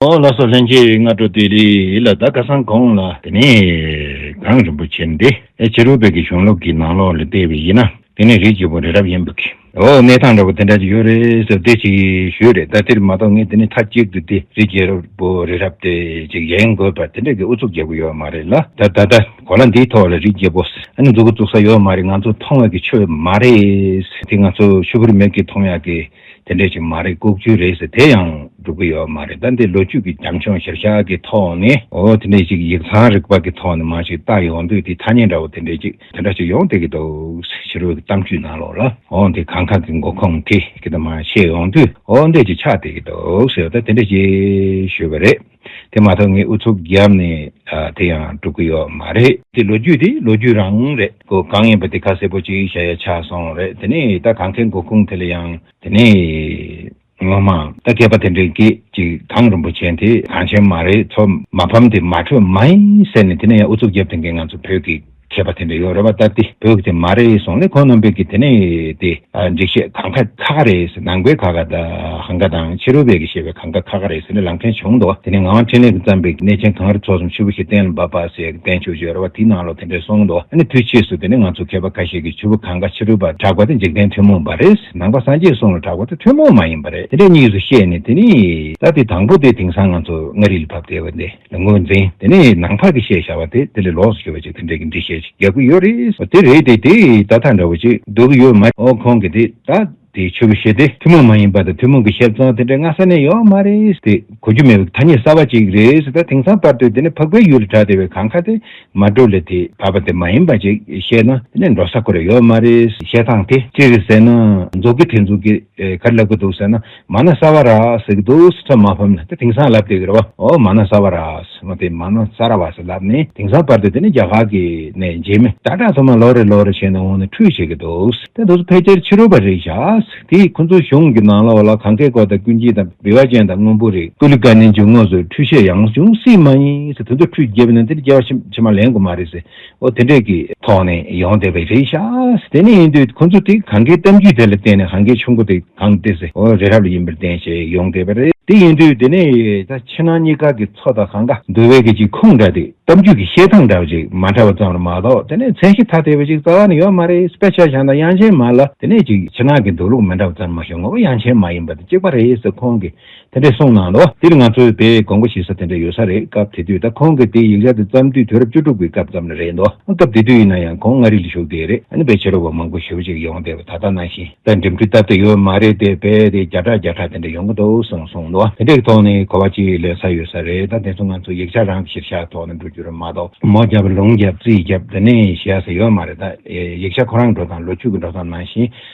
ལ་སོགས་ལྷན་སྐྱེས་སྔ་དྲོ་སྟེ་རི་ལ་བདག་བཀའ་གསང་དགོངས་ལ། དེ་ནས་གངས་རིན་པོ་ཆེ་འདི་ཕྱི་རུ་བོད་ཀྱི་གཞུང་ལུགས་ཀྱི་ནང་ལོགས་ལ་བལྟས་པས་ཡིན་ན་དེ་ནི་རིགས་ཀྱི་བུ་རི་རབ་ཡིན་པ་གི། འོ་གནས་སྟངས་འདྲ་བོ་དེ་འདྲ་ཅིག་ཡོད་རེད་ཟེར་བདེ་ཆེ་གི་ཞུས་རེད་ད་དེར་མ་གཏོགས་ངས་དེ་ནི་མཐའ་གཅིག་ཏུ་དེ་རིགས་ཀྱི་བུ་རི་རབ་དེ་ཅིག་ཡིན་དགོས་པ་དེ་འདྲ་གི་ཨུ་ཚུགས་རྒྱག་གི་ཡོད་མ་རེད་ལ་ད་ད་ལྟ་གོ་ལ་འདིའི་ཐོག་ལ་རིགས་རྒྱས་པོ་ཨ་ནི་འཛུགས་ཀི་བཙུགས་ས་ཡོད་མ་རེད་ང་ཚོ་མཐོང་ཡག་གི་ཆོས་མ་རེད་དེ་ང་ཚོ་ཆོས་པོ་རིས་མེད་ཀི་མཐོང་ཡག་གི་དེ་འདྲས་ཆོས་མ་རེད་ལྐོག་རྒྱུ་རེད་ཟེར་དེ་ཡང་སྒྲུབ་ཀི་ཡོད་མ་རེད་ད་འདི་ལོ་རྒྱུས་ཀི་རྒྱང་ཆོང་གཞིར་བཞག་གི་ཐོག་ནས་འོ་དེ་འདྲས་ཅིག་ཡིག་ཚང་རིག་པ་གི་ཐོག་ནས་མང་ཞིག་བལྟ་ཡོང་དུས་དེ་ཐ་སྙད་འདྲ་བོ་དེ་འདྲས་ཅིག་དེ་འདྲ་ཅིག་ཡོང་བསྡད་ཀི་འདུག་ཕྱི་རོལ་གི་གཏམ་རྒྱུད་ནང་ལོགས་ལ་འོ་འདི་གང་གང་གི་མགོ་ཁུངས་དེ་གི་ད་མ་ཤེས་ཡོང་དུས་འོ་འདྲས་ཅིག་ཆགས་བསྡད་ཀི་འདུག་ཟེར་ད་དེ་འདྲས་ཅིག་ཞུས་པ་རེད། དེ་མ་ཐག་ངས་ཨུ་ཚུགས་བརྒྱབ་ནས་དེ་ཡང་སྒྲུབ་ཀྱི་ཡོད་མ་རེད། དེ་ལོ་རྒྱུས་དེ་ལོ་རྒྱུས་རང་རེད། གོ་གང་ཡིན་པ་དེ་ཁ་གསལ་པོ་གཅིག་བྱ་ཡ་ཆགས་སོང་རེད་དེ་ནས་ད་གང་ཁའི་མགོ་ཁུངས་དེ་ལ་ཡང་དེ་ནས་ངོ་མ་ད་མཁས་པ་དེ་འདྲའི་སྐད་ཅིག་གངས་རིན་པོ་ཆེན་དེ་གངས་ཆེན་མ་རེད་ཚོ་མ་ཕམ་དེ་མ་ཁྲོས་མ་ཡིན་ཟེར་ནས་དེ་ནས་ཡང་ཨུ་ཚུགས་བརྒྱབ་དེ་འགན་ང་ཚོ་བོད་ཀྱི། མཁས་པ་དེ་འདྲ་ཡོད་རེད་བ་ད་དེ་བོད་ཀྱི་དེ་མ་རེད་གསུངས་ལེ་ཁོང་རྣམ་པས་ཀྱི་དེ་ནས་དེ་འགྲིག་བཤད་གང་ཁ་ཁ་ཁ་རེད་ཟེར་ནང་པའི་ཁ་ཁ་གང་ཁ་དང་ཕྱི་རོལ་པའི་ཀྱི་བཤད་པའི་གང་ཁ་ཁ་ཁ་རེད་ཟེར་ནས་ལམ་ཕྲན་བྱུང་འདུག་དེ་ནས་ངང་འཕྲིན་ལས་ཀྱི་བརྩམས་པའི་ཀྱི་གནས་ཆེན་གངས་རི་ཚོགས་གསུམ་ཆུ་བོ་ཞེས་གཏན་ལ་འབབ་པ་ཟེར་ཀྱི་བསྟན་བཅོས་བརྗོད་རེད་བ་དེའི་ནང་ལོ་དེ་འདྲ་གསུངས་འདུག་ཨ་ནི་དུས་ཕྱིས་སུ་དེ་ནས་ང་ཚོ་མཁས་པ་ཁ་ཤས་ཀྱི་ཆུ་བོ་གང་ཁ་ཕྱི་རོལ་པར་གྲགས་པ་དེ་འཇིག་རྟེན་ཐུན་མོང་བ་རེད་ནང་པ་སངས་རྒྱས་གསུངས་ལ་གྲགས་པ་དེ་ཐུན་མོང་མ་ཡིན་པ་རེད་དེ་འདྲ་གཉིས་སུ་བཤད་ནས་དེ་ནས་ད་དེ་དང་པོ་དེ་དེང་སང་ང་ཚོ་མངའ་རིས་ལ་བབས་བསྡད་བ་དེ། ངོས་འཛིན་དེ་ནི་ནང་བར་གྱི་ཤེས་བྱ་བ་དེ་དེ་ལས་ལོགས་སུ་གྱུར་པ་ཅིག་དེ་འདྲའི་གི་འདྲི་ཤེས་ཅིག་རྒྱག་གི་ཡོད་རེད་ཟོ་དེ་རེད་དེ་དེས་ད་ཐག་འདྲ་བོ་ཅིག་སྡུག་གི་ཡོད་མ་ཨོ་ཁོང་གི་དེ་ད་དེ་ཆོས་བྱེད་དེ་ཐུན་མོང་མ་ཡིན་པ་དང་ཐུན་མོང་གི་ཤེས་བྱ་དེ་འདྲ་སྔ་ས་ནས་ཡོད་མ་རེད་དེ་གོ་རྒྱུ་མེད་པའི་ཐ་སྙད་གསར་བ་ཅིག་རེད་ད་དེང་སང་བར་དུ་དེ་ནི་ཕག་པའི་ཡུལ་ལ་གྲགས་དེ་བས་གང་ཁ་དེ་མ་འགྲོ་ལས་དེ་བར་པ་དེ་མ་ཡིན་པ་ཅིག་བཤད་ན་དེ་ནི་འགྲོ་ས་ཁོ་རེ་ཡོད་མ་རེད་བཤད་སྟངས་དེ་ཅི་རེད་ཟེར་ན་རྫོགས་ཀི་དེ་འཛུགས་ཀི་ག་རེ་ལབ་ཀི་འདུག་ཟེར་ན། མ་ན་ས་བ་ར་སི་གི་དུག་སི་ཁྲ་མ་ཕམ་ན་དེ་དེང་སང་ལབ་དེ་གི་ར་བ་ཨོ་མ་ན་ས་བ་ར་སི་མོ་དེ་མ་ན་ས་ར་བ་སི་ལབ་ནས་དེང་སང་བར་དུ་དེ་ནི་རྒྱ་གར་གི་ནས་འཇིགས་མེད་ཏྲ་ཏྲ་ཚོ་མ་ལོ་རེ་ལོ་རེ་བྱས་ནས་འོང་ནས་ཁྲུས་བྱེད་གི་དུག་སི་དེ་དུག་སི་ཕལ་ཆེར་ཕྱི་རོལ་པ་རིགས་ཤ་སི་དེ་ཁོང་ཚོའི་གཞུང་གི་ནང་ལ་བ་ལ་གང་སྐད་གོ་དང་ཀུན་སྐྱིད་དང་བི་བ་ཅན་དང་དངོས་པོ་རིགས་ཀུ་ལི་ཀ་ནི་འཇུག་ངོགས་སུ་ཁྲུས་བྱེད་ཡང་འབྱུང་སི་མ་ཡིན་སི་དེ་ཚོ་ཁྲུས་བགྱིད་པ་ནི་དེ་ནི་རྒྱལ་བ་ཕྱི་མ་ལེན་དགོས་མ་རེད་སི། འོ་དེ་འདྲས་ཀྱི་ཐོག་ནས་ཡོང་བསྡད་པའི་རེད་ཤག་དེ་ནས་ཡིན་དུས་ཁོང་ཚོ་དེ་གང་གའི་གཏམ་རྒྱུད་དེ་ལ་བརྟེན་ནས་གང་གའི་ཆུ་མགོ་དེ་གང་དེ་ཟེ་འོ་རེ་རབ་ལ་ཡིན་པར་བརྟེན་ཞེས་ཡོང་བསྡད་པ་རེད་དེ་ཡིན་དུས་དེ་ནས་ད་ཕྱི་ནང་གཉིས་ཀ་གི་ཚོ་དང་གང་ག་འདུ་བའི་གི་གཅིག་ཁུངས་འདྲ་དེ་གཏམ་རྒྱུད་ཀྱི་བཤད་སྟངས་འདྲ་བ་ཅིག་མ་འདྲ་བ་ཙམ་ལ་མ་གཏོགས་དེ་ནས་མཚན་གཞི་ཐ་དད་པ་ཅིག་རྩ་བ་ནས་ཡོད་མ་རེད་སྤེ་ཆ་ཞང་དང་དབྱངས་ཅན་མ་ལ་དེ་ནས་ཅིག་ཕྱི་ནང་གི་འདུག་ལུགས་མི་འདྲ་བ་ཙམ་མ་བྱུང་ངོ་བོ་དབྱངས་ཅན་མ་ཡིན་པ་དེ་གཅིག་པ་རེད་ཟེ་ཁོང་གི་དེ་འདྲས་གསུངས་གནང་ལོ། འདིར་ང་ཚོས་དེ་དགོངས་པ་བཞེས་ས་དེ་འདྲས་ཡོད་ས་རེད་སྐབས་དེ་དུས་ད་ཁོང་གི་དེ་ཡིག་ཆ་དེ་བརྩམས་དུས་དུས་རབས་བཅུ་དྲུག་པའི་སྐབས་ཙམ་ལ་རེད་འདོད་ཨང་སྐབས་དེ་དུས་ཡིན་ན་ཡང་ཁོང་མངའ་རིས་ལ་བཞུགས་བསྡད་རེད་ཨ་ནི་བེད་སྤྱད་རོགས་པ་མང་པོ་ཞུ་ཅིག་ཡོང་བསྡད་པ་ད་ལྟ་ནང་བཞིན་ད་འགྲིམ་འགྲུལ་སྟབས་བདེ་ཡོད་མ་རེད་དེ་བས་དེ་བརྒྱ་ཕྲག་བརྒྱ་ཕྲག་དེ་འདྲས་ཡོང་གི་འདུག་གསུངས་སོང་ལོ་དེ་འདྲས་ཀྱི་ཐོག་ནས་གོ་བ་གཅིག་ལོན་ས་ཡོད་ས་རེད་ད་དེ་ཚོ་ང་ཚོ་ཡིག་ཆ་རང་གི་གཞིར་བཞག་ཐོག་ནས་འགྲོ་རྒྱུ་རེད་མ་གཏོགས་མོ་བརྒྱབ་ལུང་བརྒྱབ་རྩིས་བརྒྱབ་དེ་ནས་བཞེས་ས་ཡོད་མ་རེད་ད་ཡིག་ཆ་ཁོ་རང་གི་འགྲོ་སྟངས་ལོ་རྒྱུས་ཀྱི་འགྲོ་སྟངས་ནང་བཞིན།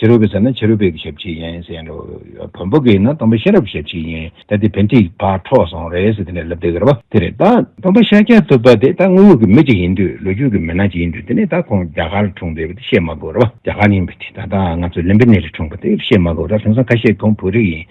ཕྱི་རོལ་པའི་ཟེར་ན་ཕྱི་རོལ་པའི་གི་ཞབས་ཕྱི་ཡིན། ཟེར་ཡིན། བོན་པོ་གི་ཡིན་ན་དམ་པ་གཤེན་རབ་ཞབས་ཕྱི་ཡིན། ད་དེ་བོན་ཐིག་བག་འཕྲོག་སོང་རེད་ཟེར་དེ་ནས་ལབ་དེ་གར་བ་དེ་རེད་ད། དམ་པ་ཤཱཀྱ་ཐུབ་པ་དེ་ད་དངོས་ཡོད་གི་མི་གཅིག་ཡིན་དུས་ལོ་རྒྱུས་གི་མི་སྣ་གཅིག་ཡིན་དུས་དེ་ནས་ད་ཁོང་རྒྱ་གར་ལ་འཁྲུངས་པའི་བཤད་མ་དགོས་ར་བ། རྒྱ་གར་ཡིན་པའི་དེ་ད་ད་ང་ཚོ་ལེམ་པི་ནེ་རི་འཁྲུངས་པ་དེ་བཤད་མ་དགོས་ར་དེང་སང་ཁ་ཤས་ཁོང་བོད་རིགས་ཡིན།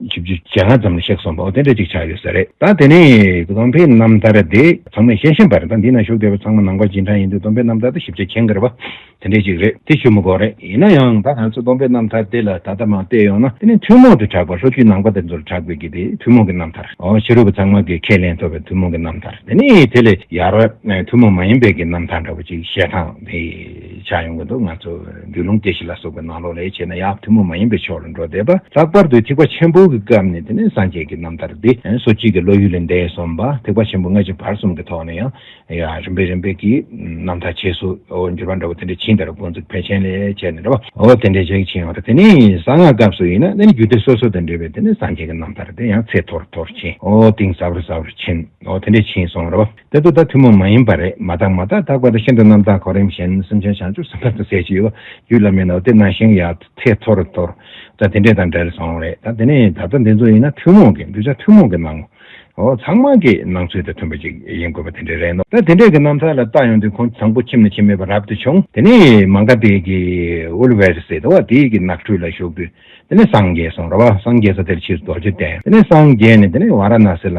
བཅུ་བཅུ་ཇེ་ལྔ་ཙམ་ལ་གཤེགས་སོང་པའོ་དེ་འདྲ་ཅིག་ཆགས་ཡོད་ས་རེད་ད་དེ་ནས་སྡོམ་པའི་རྣམ་ཐར་དེ་ཚང་མས་ཤེས་ཤེས་པར་ད་འདི་ན་བཞུགས་བསྡད་པ་ཚང་མ་ནང་པ་ཇི་འདྲ་ཡིན་དུས་སྡོམ་པའི་རྣམ་ཐར་དེ་ཞིབ་ཆ་མཁྱེན་དགོས་པ་དེ་འདྲ་ཅིག་རེད་དེ་ཆུ་མོ་སྒོ་རེད་ཡིན་ན་ཡང་ད་ང་ཚོས་སྡོམ་པའི་རྣམ་ཐར་དེ་ལ་ད་ལྟ་མ་བལྟས་ཡོང་ན་དེ་ནི་ཐུན་མོང་དུ་གྲགས་པ་ལྷོ་རྒྱུད་ནང་པ་དེ་ཚོར་གྲགས་དགོས་ཀྱི་དེ་ཐུན་མོང་གི་རྣམ་ཐར་འོ་ཕྱི་རོལ་པ་ཚང་མ་གིས་ཁས་ལེན་ཐུབ་པའི་ཐུན་མོང་གི་རྣམ་ཐར་དེ་ནི་དེ་ལས་ཡར་ཐུན་མོང་མ་ཡིན་པའི་གི་རྣམ་ཐར་འདྲ་བོ་ཅིག་བཤད་སྟངས་དེ། བྱ་ཡོང་གི་འདུག་ང་ཚོ་རྒྱུད་ལུང་སྐྱེ་ཤི་ལ་སོགས་པའི་ནང་ལོག་ལས་བྱས་ན་ཡང་ཐུན་མོང་མ་ཡིན་པའི་ཕྱོགས་ལ་འགྲོ་བསྡད་པ་ལྷག་པར་དུ་ཐེག་པ་ཆེན་པོ་གི་སྐབས་ནས་དེ་ནས་སངས་རྒྱས་ཀྱི་རྣམ་ཐར་འདི་སོ་སྐྱིད་ཀྱི་བློ་ཡུལ་ལས་འདས་སོང་བ་ཐེག་པ་ཆེན་པོ་སྔ་ཕྱི་བར་གསུམ་གྱི་ཐོག་ནས་ཡང་རིམ་པས་རིམ་པས་ཀྱིས་རྣམ་ཐར་ཆེ་སོ་འགྱུར་བ་འདྲ་བོ་དེ་འདྲ་ཕྱིན་དར་འགོ་འཛུགས་ཕལ་ཆེན་ལས་བྱས་ནས་འདྲ་བ་འོ་དེ་འདྲའི་ཞིག་ཕྱིན་ཡོང་ད་དེ་ནས་གསང་སྔགས་སྐབས་སུ་ཡིན་ན་དེ་ནས་རྒྱུད་སྡེ་སོ་སོ་དང་འབྲེལ་བའི་དེ་ནས་སངས་རྒྱས་ཀྱི་རྣམ་ཐར་དེ་ཡང་ཚད་མཐོར་མཐོར་ཕྱིན་འོ་གཏིང་ཟབ་རུ་ཟབ་རུ་ཕྱིན་འོ་དེ་འདྲས་ཕྱིན་སོང་ར་བ། དེ་དུ་དང་ཐུན་མོང་མ་ཡིན་པ་རེད་མ་དག་མ་དག་དག་པ་དང་ཤིན་ཏུ་རྣམ་དག་གོ་རིམ་གཞན་སེམས་ཅན་བྱང་ཆུབ་སེམས་དཔའ་དང་ཟས་ཅི་ཡོད་རྒྱུད་བླ་མའི་ནོར་དེ་རྣམས་ཤིང་ཡང་ཚེ་ཐོ་རུ་འཐོར། ད་དེ་འདྲས་དང་འདྲེར་སོང་རེད་ད་དེ་ནས་ད་ལྟ་འདི་ཚོ་ཡིན་ན་ཐུན་མོང་གི་གདུལ་བྱ་ཐུན་མོང་གི་སྣང་ངོ། ཚང་མ་གི་སྣང་ཚུལ་དང་མཐུན་པ་ཅིག་ཡིན་དགོས་པ་དེ་འདྲས་རེད་ནོ། ད་དེ་འདྲས་གི་རྣམ་ཐར་ལ་བལྟ་ཡོང་དུས་ཁོང་དང་པོ་ཁྱིམ་ནས་ཁྱིམ་མེད་པར་རབ་ཏུ་བྱུང་དེ་ནས་མང་ཀ་ཏི་གི་ཨུལ་བྷེར་སི་ཏོ་བ་ཏི་གི་ནགས་ཁྲོད་ལ་ཞུགས་དུས་དེ་ནས་སངས་རྒྱས་སོང་ར་བ་སངས་རྒྱས་ས་དེར་ཕྱིར་རྡོ་རྗེ་གདན་དེ་ནས་སངས་རྒྱས་ནས་དེ་ནས་བ་ར་ན་སི་ལ།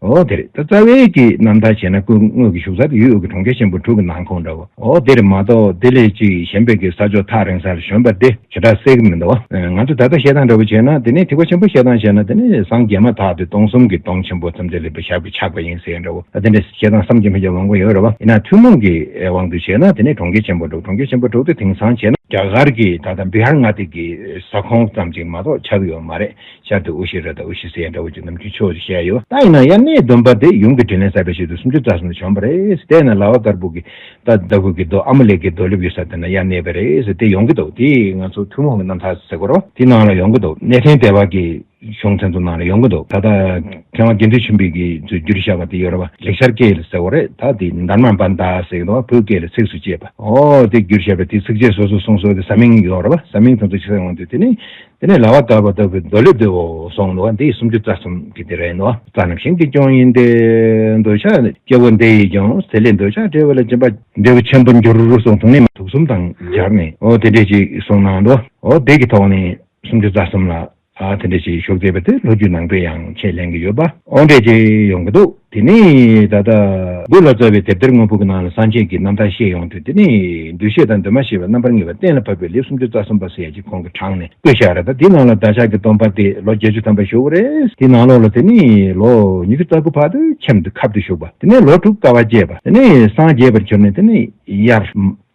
འོག་དེར་རྩ་བའི་གྱི་རྣམ་ཐར་བྱས་ན་སྐུ་དངོས་ཀྱི་བཞུགས་ས་དེ་ཡུལ་དབུས་ཀྱི་གྲོང་ཁྱེར་ཆེན་པོ་དྲུག་གི་ནང་ཁོངས་འདྲ་བོ་འོག་དེར་མ་གཏོགས་དེ་ལས་ཅིག་གཞན་པའི་གི་ས་ཕྱོགས་ཐག་རིང་སར་བྱོན་པ་དེ་བྱེ་བྲག་གསལ་གྱི་མི་འདུག་ང་ཚོས་ད་ལྟ་བཤད་སྟངས་འདྲ་བོ་བྱས་ན་དེ་ནས་ཐིག་པ་ཆེན་པོ་བཤད་སྟངས་བྱས་ན་དེ་ནས་སངས་རྒྱས་མ་ཐག་དེ་སྟོང་གསུམ་གྱི་སྟོང་ཆེན་པོ་ཙམ་དེ་ལེགས་པའི་ཞགས་པའི་ཆགས་པ་ཡིན་ཟེར་འདྲ་བོ་ད་དེ་འདྲ་བཤད་སྟངས་བསམ་གྱི་མི་འཇགས་ལོང་གོ་ཡོད་རེད་བ་ཡིན་ན་ཐུན་མོང་གི་དབང་དུ་བྱས་ན་དེ་ནས་གྲོང་ཁྱེར་ཆེན་པོ་དྲུག་གྲོང་ཁྱེར་ཆེན་པོ་དྲུག་དེ་དེང་སང་བྱས་ན་རྒྱ་གར་གྱི་ད་ལྟ་བི་ཧར་མངའ་སྡེ་གྱི་ས་ཁོངས་ཙམ་ཅིག་མ་གཏོགས་ཆགས་ཀྱི་ཡོད་མ་རེད། ཤར་དུ་ཨུ་ཤི་ར་དང་ཨུ་ཤི་སེ་འདྲ་བོ་ཅིག་ནམ་རྒྱུན་ཕྱོགས་ཅིག་བཤད་ཡོད། ད་ཡིན་ན་ཡར་སྣེའི་སྡོམ་པ་དེ་ཡུམ་གྱི་དྲིན་ལན་བསབ་པའི་ཆེད་དུ་སུམ་ཅུ་རྩ་གསུམ་དུ་བྱོན་པ་རེད། དེས་ན་ལྭ་བ་དཀར་པོ་གི་རྟ་ཟླ་ཧུད་ཀྱི་རྡོ་ཨ་མ་ལེག་གི་རྡོ་ལེབ་ཡོད་ས་དེ་ན་ཡར་སྣེ་པ་རེད། དེ་ཡོང་གི་འདུག་དེ་ང་ཚོ་ཐུན་མོང་གི་རྣམ་ཐར་ཟེར་སྐོར། དེ་ནང་ལ་ཡོང་གི་འདུག་གནས་ཕྲན་དལ་བ་གི་གཞུང་ཚན་དུ་ནང་ལ་ཡོང་གི་འདུག་ད་ལྟ་མཁས་དབང་དགེ་འདུན་ཆེན་པོས་གི་ཚོས་བསྒྱུར་བཞག་པ་དེ་ཡོ་རོ་པ་ལེགས་ཤར་སྐད་ལ་ཟེར་བ་རེད་ད་དེ་འདར་མ་འབར་མདའ་ཟེར་གི་འདུག་ཨ་བོད་སྐད་ལ་ཚིགས་སུ་བཅད་པ་འོ་དེ་བསྒྱུར་བཞག་པའི་དེ་ཚིགས་བཅད་སོ་སོ་གསུངས་སོ་དེ་ས་མིང་ཡོ་རོ་པ་ས་མིང་དང་ཚུལ་ཆེ་ས་ཡོང་དུས་དེ་ནི་དེ་ནས་ལྭ་བ་བཏབ་པ་ལྟ་བུའི་རྡོ་ལེབ་དེ་འོག་སོང་ནོ། འདི་ཡི་སུམ་ཅུ་རྩ་གསུམ་གྱི་དེ་རེད་ནོ། རྩ་རྣམས་ཞིང་གི་སྐྱོང་ཡིན་ཏེ། འདོད་ཆགས་སྐྱེ་བོ་འདི་ཡིས་ཀྱང་ཟས་ལས་འདོད་ཆགས་བྲལ་བ་ལ་སྦྱིན་པ། འབྲས་བུ་ཆེན་པོར་འགྱུར་སོགས་དུག་ནི་མ། དུག་གསུམ་དང་སྦྱར་ནས་འོ་དེ་འདྲས་ཅིག་གསུངས་ན་འགྲོ། འོ་དེ་གི་ཐོག་ནས་སུམ་ཅུ་རྩ་གསུམ་ལ། དེ་འདྲས་ཅིག་ཞུགས་ཟེར་བ་དེ་ལྷོ་རྒྱུད་ནང་པས་ཡང་ཆེས་ལེན་གྱི་ཡོད་པ། འོ་འདྲས་ཅིག་ཡོང་གི་འདུག། དེ་ནས་ད་ལྟ། སྒོས་ལ་བཙའ་བའི་དེབ་ཐེར་དངོས་པོ་གི་ནང་ལ་སངས་རྒྱས་ཀྱི་རྣམ་ཐར་ཤེས་ཡོང་དུས་དེ་ནི། འདུ་ཤེས་དང་འདུན་མ་ཞེས་པ་རྣམ་པར་ངེས་པ་གཏན་ལ་ཕབ་པའི་ལེབ་སུམ་ཅུ་རྩ་གསུམ་པ་ཟེར་ཡས་ཀྱི་གོང་གི་གྲངས་ནས་བརྐོས་བཞག་རེད་ད་དེའི་ནང་ལ་བདག་ཅག་གི་སྟོང་པ་སྟེ་ལོ་བརྒྱད་ཅུ་ཐམ་པ་ཞོལ་བོ་རེད། དེའི་ནང་ལོགས་ལ་དེ་ནི་ལོ་ཉི་ཤུ་རྩ་དགུ་བར་དུ་ཁྱམས་དུ་ཁབ་ཏུ་བཞུགས་པ་དེ་ནས་ལོ་དྲུག་དཀའ་བ་སྤྱད་པ་དེ་ནས་སངས་རྒྱས་པར་གྱུར་ནས་དེ་ནི་དབྱར།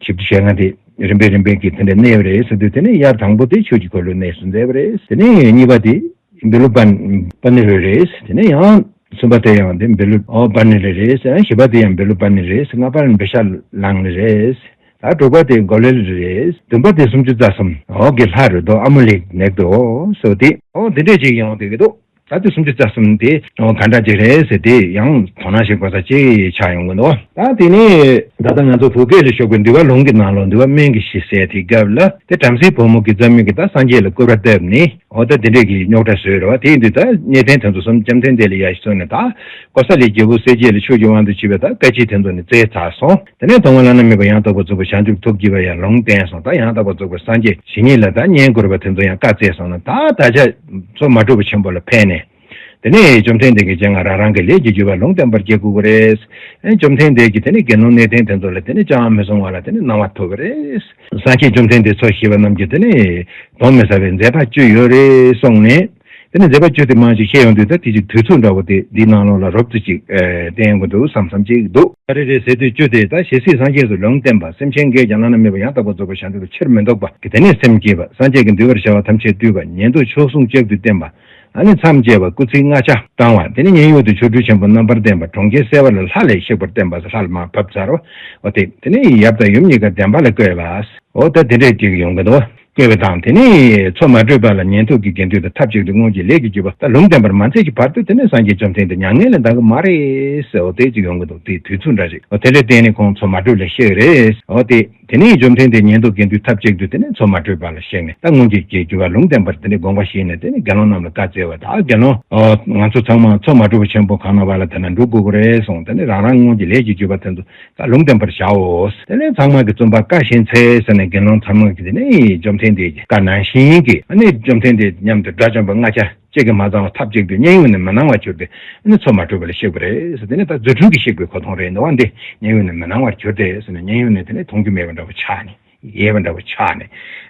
ཞིབ་ཏུ་བཤད་ན་དེ་རིམ་པས་རིམ་པས་ཀྱིས་དེ་འདྲའི་གནས་པ་རེད་ཟེར་དུས་དེ་ནི་དབྱར་དང་པོ་དེ་ཆོས་ཀྱི་འཁོར་ལོའི་གནས་སུ་མཛད་པ་རེད་དེ་ནས་གཉིས་པ་དེ། འབི་ལུ་པཱ་ནི་རེ་རེས་དེ་ནས་ཡང། གསུམ་པ་དེ་ཡང་འབི་ལུ་པཱ་ནི་རེ་རེས། བཞི་པ་དེ་ཡང་འབི་ལུ་པཱ་ནི་རེས། ལྔ་པར་འབི་ཤཱ་ལང་ནི་རེས། དཱ་དྲུག་པ་དེ་གོ་ལེ་ལི་རེས། བདུན་པ་དེ་སུམ་ཅུ་རྩ་གསུམ། གི་ལྷ་རོལ་དོ་ཨ་མོ་ལིག་ནེག་དོ་སོ་དེ། དེ་འདྲས་ཅིག་ཡང་དེ་དོ། དཱ་དེ་སུམ་ཅུ་རྩ་གསུམ་དེ། ག་འདྲ་ཅིག་རེས་དེ་ཡང། དོ་ན་ཞིག་པ་ས་ཅི་ཆ་ཡང་ཀུན་དོ། དཱ་དེ་ནས། ད་ལྟ་ང་ཚོ་བུ་སྐད་ལས་ཤོག་པའི་འདུལ་བ་ལུང་གི་ནང་ལོ་འདུལ་བ་སྨན་གྱི་ཤི་སའི་དེ་སྐབས་ལ་དེ་བྲམ་ཟེའི་བུ་མོ་གི་རྩ་མིག་གི་ད་སངས་རྒྱས་ལ་བསྐོས་པ་བཏབ་ནས། འོ་ད་འདི་འདྲས་ཀྱི་རྙོག་དྲ་བཟོས་རོགས་དེ་ཡིན་དུས་ད་གནས་ཕན་དོན་དུ་སོམ་ལྕམ་ཐན་ལྡན་ལས་ཡག་ཞིག་བཟོ་ནས་ད་ཀོ་ས་ལའི་རྒྱལ་པོ་གསལ་རྒྱལ་ལ་ཆོས་ཀྱི་དབང་དུ་བྱེད་པའི་ད་བཀའ་སྤྱི་དེ་ཚོ་ནི་བཙལ་ཚར་སོང་དེ་ནས་དང་བ་བླ་ན་མེད་པ་ཡང་དག་པར་རྫོགས་པའི་བྱང་ཆུབ་ཐོབ་བགྱི་བ་ཡང་ལུང་བསྟན་སོང་ད་ཡང་དག་པར་རྫོགས་པའི་སངས་རྒྱས་ཞི་གཉིས་ལ་ད་བསྙེན་དགོས་ར་བ་དེ་ཚོ་ཡང་བཀའ་བསྩལ་སོང་ན་ད་ད་ཆ་ཚོ་མ་གྲུབ་པ་ཆེན་པོ་ལ་ཕན་ནས། དེ་ནས་བཅོམ་ལྡན་འདས་ཀྱིས་སྤྱན་སྔར་རང་རང་གི་ལས་ཀྱི་རྒྱུས་པས་ལུང་བསྟན་པར་བགྱི་དགོས་པ་རེད། བཅོམ་ལྡན་འདས་ཀྱིས་དེ་ནས་དགེ་སློང་གནས་བརྟན་དེ་ཚོ་ལ་དེ་ནས་ཅང་མི་གསུང་བ་ལ་དེ་ནས་གནང་བ་ཐོབ་པ་རེད། སངས་རྒྱས་བཅོམ་ལྡན་འདས་ཚོགས་ཞེས་པ་རྣམས་ཀྱིས་དེ་ནས་གདོན་མི་ཟ་བའི་མཛད་པ་བཅུ་ཡོད་རེད་གསུངས་ནས། དེ་ནས་མཛད་པ་བཅུ་དེ་མང་ཞིག་བཤད་ཡོང་དུས་ད་དེ་ཅིག་དུས་ཚོད་འདྲ་བོ་དེ་འདིའི་ནང་ལོགས་ལ་རོབ་ཙི་ཅིག་བསྟན་དགོས་འདུག་བསམ་བསམ་ཅིག་འདུག། རེ་རེ་ཟེར་དུས་བཅུ་དེ་ད་ཞེ་སྲིད་སངས་རྒྱས་སུ་ལུང་བསྟན་པ་སེམས་ཅན་འགས་ཀྱང་བླ་ན་མེད་པ་ཡང་དག་པར་རྫོགས་པར་བྱ་འདོད་པའི་ཕྱིར་མི་ལྡོག་པ་གི་དེ་ནས་སེམས་བསྐྱེད་པ་སངས་རྒྱས་ཀྱི་འདུལ་བར་བྱ་བ་ཐམས་ཅད་བཏུལ་བ་ཉན་ཐོས་མཆོག་ཟུང་ལྕགས་ཀྱུས་བསྟན་པ། ཨ་ནི་མཚམས་བཅད་པ་སྐུ་ཚིགས་ལྔ་ཆ་བཀང་བ་དེ་ནི་མཉན་ཡོད་དུ་ཆོ་འཕྲུལ་ཆེན་པོ་རྣམ་པར་བསྟན་པ་གྲོང་ཁྱེར་གསལ་བ་ལ་ལྷ་ལས་གཤེགས་པར་བསྟན་པ་སོགས་ལྷ་ལ་མ་ཕབ་ཚར་བ་འོ་དེ་དེ་ནི་ཡབ་དང་ཡུམ་གཉིས་ཀ་བདེན་པ་ལ་བཀོད་པ་འོ་ད་དེ་འདྲས་ཅིག་ཡོང་གི་འདུག་བཀོད་པའི་དང་དེ་ནི་མཚོ་མ་དྲོས་པ་ལ་ཉན་ཐོས་ཀྱི་དགེ་འདུན་དང་ཐབས་ཅིག་ཏུ་སྔོན་གྱི་ལས་ཀྱི་རྒྱུ་བ་ད་ལུང་བསྟན་པར་མ་མཛད་ཀྱི་བར་དུ་དེ་ནི་སངས་རྒྱས་བཅོམ་ལྡན་འདི་མྱ་ངན་ལས་འདའ་གི་མ་རེད་འོ་དེ་ཅིག་ཡོང་གི་འདུག་དེའི་དུས་ཚོད་འདྲ་ཅིག་འོ་དེ་འདྲས་བསྟན་ནི་ཁོང་མཚོ་མ་དྲོས་ལ་གཤེགས་རེད་འོ་དེ། དེ་ནས་འཇོམས་ཐེངས་དེ་ཉན་ཐོས་དགེ་འདུན་ཐབས་ཅིག་ཏུ་དེ་ནས་ཚོགས་མ་དྲོས་པ་ལ་གཤེགས་ནས་ད་སྔོན་གྱི་ཅེས་བགྱི་བར་ལུང་བསྟན་པར་དེ་ནས་དགོངས་པ་བཞེས་ནས་དེ་ནས་དགེ་སློང་རྣམས་ལ་བཀའ་སྩལ་བ། ད་དགེ་སློང། ང་ཚོ་ཚང་མ་ཚོགས་མ་དྲོས་པ་ཆེན་པོ་གང་ན་བ་ལ་དེ་ན་འགྲོ་དགོས་པོ་རེད་གསུངས་དེ་ནས་རང་རང་སྔོན་གྱི་ལས་ཀྱིས་བརྒྱུད་པ་དེ་ཚོ་བཀའ་ལུང་བསྟན་པར་བྱའོ། དེ་ནས་ཚང་མ་གྱི་བཙུན་པ་བཀའ་བཞིན་འཚལ་ཟེར་ནས་དགེ་སློང་ཚང་མ་གྱི་དེ་ནས་འཇོམས་ཐེངས་དེ་བཀའ་ནང་བཞིན་གྱིས་དེ་ནས་འཇོམས་ཐེངས་དེ་སྙམ་དུ་དགྲ་བཅོམ་པའི་སྔགས་བྱ། ཅད་ཀྱིས་མ་ཚང་བ་ཐབས་ཅིག་ཏུ་མཉན་ཡོད་ནས་མི་སྣང་བར་གྱུར་ཏེ། འདི་ནི་ཚོགས་མ་གྲོལ་བ་ལས་གཤེགས་པ་རེད། འདི་ནི་ད་རྫུ་འཕྲུལ་གྱིས་གཤེགས་པའི་གོ་མཐོང་རེད་ནོ། འདི་མཉན་ཡོད་ནས་མི་སྣང་བར་གྱུར་ཏེ། མཉན་ཡོད་ནས་དེ་ནི་མཐོང་རྒྱུ་མེད་པ་འདྲ་བོ་ཆགས་ནས། ཡལ་བ་འདྲ་བོ་ཆགས་ནས།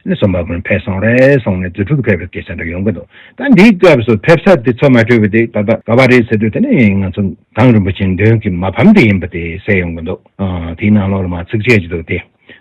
ནི་སོ་མ་བུན་ཕས་སོང་རེད་སོང་ནས་རྫུ་འཕྲུལ་གྱིས་ཕེབས་པའི་སྐད་ཆ་འདྲ་ཡོང་གི་འདུག་ད་འདིའི་སྐབས་སུ་ཕེབས་ས་དེ་ཚོགས་མ་གྲོལ་བ་དེ་ད་ལྟ་ག་བ་རེད་ཟེར་དུས་དེ་ནི་ང་ཚོ་དང་རིན་པོ་ཆེ་མདུན་གྱི་མ་ཕམ་དེ་ཡིན་པ་དེ་གསལ་ཡོང་གི་འདུག་དེའི་ནང་ལོགས་ལ་མ་ཚིག་ཆད་ཀྱི་འདུག་དེ།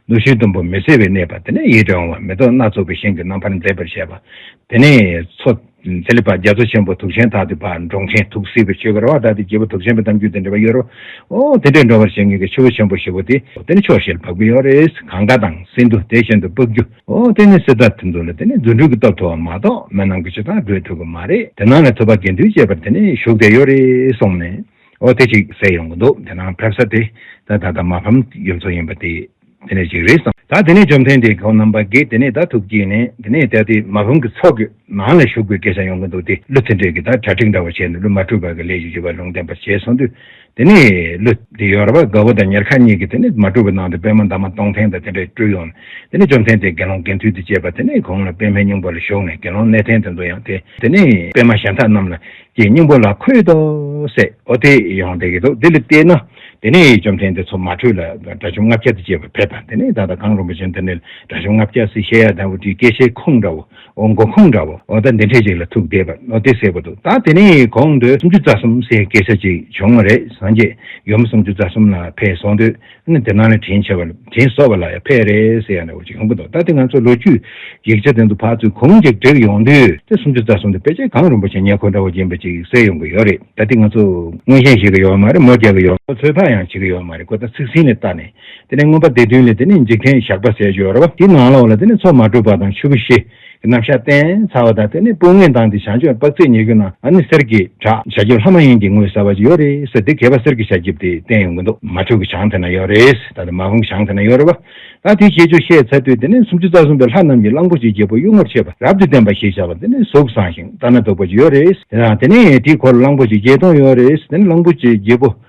ནུ་ཞོའི་དུམ་བུ་མི་གསལ་བའི་གནས་པ་དེ་ནས་ཡིད་དུ་འོང་བ་མེ་ཏོག་སྣ་ཚོགས་པའི་ཤིང་གི་རྣམ་པར་མཛེས་པར་བྱས་པ། དེ་ནས་མཚོ། ཚེ་ལེགས་པ་རྒྱ་མཚོ་ཆེན་པོ་དུག་ཆེན་དག་དུད་པ་འབྲོང་ཆེན་དུག་སེལ་བའི་ཆོས་ཀྱི་ར་བ་དག་སྟེ་རྒྱལ་པོ་དུག་ཆེན་པོའི་གཏམ་རྒྱུད་དང་འབྲེལ་བ་ཡོད་རོ། ཨོ། དེ་འདྲའི་འགྲོ་བར་བྱེད་ངེས་ཀྱི་ཆུ་བོ་ཆེན་པོ་བཞི་བོ་དེ། དེ་ནི་ཕྱོགས་བཞི་ལ་འཕགས་པའི་ཡོ་རེས་གངྒཱ་དང་སིནྡྷུ་དེ་བཞིན་དུ་སྤགས་རྒྱུ། ཨོ། དེ་ནི་སི་དྷཱར་ཐུ་འདུག་ལ་དེ་ནི་རྫུ་འཕྲུལ་གྱི་སྟོབས་མཐོ་བ་མ་གཏོགས་མི་རྣམས་ཀྱི་ཕྱི་དང་སྒྲོས་འཕྲུལ་གྱི་མ་རེད་དེ་སྣང་ལ་ཐུབ་པ་དགེ་འདུན་བཅས་པར་དེ་ནས་ཞུགས་ཏེ་ཡོ་རེས་སོང་ནས། ཨོ་དེ་ཅིག་བསད་ཡོང་གི་འདུག་དེ་ནང་ཕེབས་ས་དེ་ད་ད་ད་མ་ཕམ་ཡུལ་ཚོ་ཡིན་པ་དེ་དེ་ནས་ཅིག་རེད་སོང། ད་དེ་ནས་བཅོམ་ལྡན་འདས་ཁོང་རྣམ་པ་གིས་དེ་ནས་ད་ཐུགས་བསྐྱེད་ནས་དེ་ནས་ད་དེ་མ་ཕམ་གྱི་ཚོགས་ཀྱི་ནང་ལ་ཞུགས་པའི་སྐད་ཆ་ཡོང་གི་འདུག་དེ་ཀླུ་ཐི་འབྲས་ཀྱིས་ད་གྲ་སྒྲིག་འདྲ་བ་བྱས་ནས་ཀླུ་མ་དྲུག་པ་གི་ལས་ཀྱི་རྒྱུ་བ་ལུང་བསྟན་པར་བྱས་སོང་དུས་དེ་ནས་ཀླུ་དེ་ཡོལ་བ་དགའ་བོ་དང་ཉེར་ཁ་གཉིས་ཀྱིས་དེ་ནས་མ་དྲུག་པ་ནང་དུ་པད་མ་འདབ་མ་སྟོང་ཐེངས་དང་དེ་འདྲ་སྤྲུལ་ཡོང་ནས་དེ་ནས་བཅོམ་ལྡན་འདས་དགེ་སློང་དགེ་འདུན་དུ་བཅས་པ་དེ་ནས་གོང་ལ་པད་མའི་སྙིང་པོ་ལ་ཞུགས་ནས་དགེ་སློང་གནས་བརྟན་དེ་འདུག་ཡང་དེ་ནས་པད་མ་གཞན་དག་རྣམས་ལ་ཀྱི་སྙིང་པོ་ལ་འཁོད་དོ། སའི་ཨོ་དེ་ཡང་བཟླས་ཀྱི་འདུག་འདི་ལ་བལྟས་ན། དེ་ནས་བཅོམ་ལྡན་འདས་མཚོ་མ་ཁྲོས་ལ་དགྲ་བཅོམ་ལྔ་བརྒྱ་དང་བཅས་པ་ཕེབས་པ་འདི་ནས་ད་ལྟ་གངས་རིན་པོ་ཆེ་འདི་ནས་དགྲ་བཅོམ་ལྔ་བརྒྱ་སྲིད་ཞལ་ཡར་ལྡང་བུ་ཏྲའི་སྐད་ཆའི་ཁུངས་འདྲ་བོ། ཨོ་མགོ་ཁུངས་འདྲ་བོ། ཨོ་ད་འདི་འཕྲལ་ཅིག་ལ་ཐུགས་བདེ་བར་ཨོ་དེ་ཟེར་བ་འདུག་ད་དེ་ནས་གོང་དུ་སུམ་ཅུ་རྩ་གསུམ་སའི་སྐད་ཆ་ཅིག་བྱུང་བ་རེད་སངས་རྒྱས་ཡུམ་སུམ་ཅུ་རྩ་གསུམ་ལ་ཕེབས་སོང་དུས་ནི་དེ་སྣང་ལས་དྲན་བྱས་པ་ལ་དྲན་གསོ་བ་ལ་ཡང་ཕལ་རེ་ཟེར་ཡང་ན་བ་ཅིག་ཡོང་གི་འདུག་ད་དེ་ང་ཚོ་ལོ་རྒྱུས་ཀྱི་ཡིག་ཆ་སྟེང་དུ་ཕར་ཚུར་གང་ཅིག་བསྒྲིགས་ཡོང་དུས་དེ་སུམ་ཅུ་རྩ་གསུམ་དུ་དཔེ་ཆ་གང་རིན་པོ་ཆེ་ཉེ་འཁོར་འདྲ་བོ་ཡིན་པ་ཅིག་གསལ་ཡོང་གི་ཡོད་རེད་ད་དེ་ང་ཚོ་མངོན་ཞེན་བྱེད་ཀྱི་ཡོད་མ་རེད་མོ་རྒྱག་གི་ཡོད་མ་ཚོད་དཔག་ཡང་བྱེད་ཀྱི་ཡོད་མ་རེད་ཁོ་ད་ཚིག་ཟིན་ནས་བལྟ་ནས་དེ་ནས་མངོན་པ་འདི་བདུན་ལས་དེ་ནས་འཇིག་རྟེན་ཞགས་པ་ཟེར་ཞོར་བ་དེའི་ནང་ལོགས་ལ་དེ་ནས་ཚོགས་མ་གྲུབ་པ་དང་ཆུ་བོ་བཞི། གི་རྣམ་གཞག་བསྟན། ཚ་བ་དང་དེ་ནི་སྤུ་ངན་དང་དེ་བྱང་ཆུབ་དཔག་ཚད་ཉེ་རྒྱུ་ན་ཨ་ནི་གསེར་གྱི་བྲག་བྱ་ཁྱིབ་ལྷ་མ་ཡིན་གྱི་ངོས་ཟ་བ་ཅི་ཡོད་རེད་ཟེར་དེ་གས་པ་གསེར་གྱི་བྱ་ཁྱིབ་དེ་བསྟན་ཡོང་གི་འདུག་མ་ཕྲུག་གི་བྱང་དེ་ན་ཡོད་རེད་ད་དེ་མ་བུང་གི་བྱང་དེ་ན་ཡོད་རེད་བ། ད་དེ་ཁྱེད་ཆུ་ཤེལ་ཚ་དུས་དེ་ནི་སུམ་ཅུ་རྩ་གསུམ་པའི་ལྷ་རྣམས་ཀྱི་གླང་པོ་ཆེའི་རྒྱལ་པོ་གཡུལ་ངོར་ཆས་པ་རབ་ཏུ་བསྟན་པ་ཞེས་བྱ་བ་འདི་ནི་གཟུགས་བཟང་ཞིང་ལྟ་ན་སྡུག་པ་ཅི་ཡོད་རེད་དེ་དང་དེ་ནས་དེའི་འཁོར་ལོ་གླང་པོ་ཆེ་བརྒྱད་སྟོང་ཡོད་རེད་དེ་ནི་གླང་པོ་ཆེའི་རྒྱལ་པོ།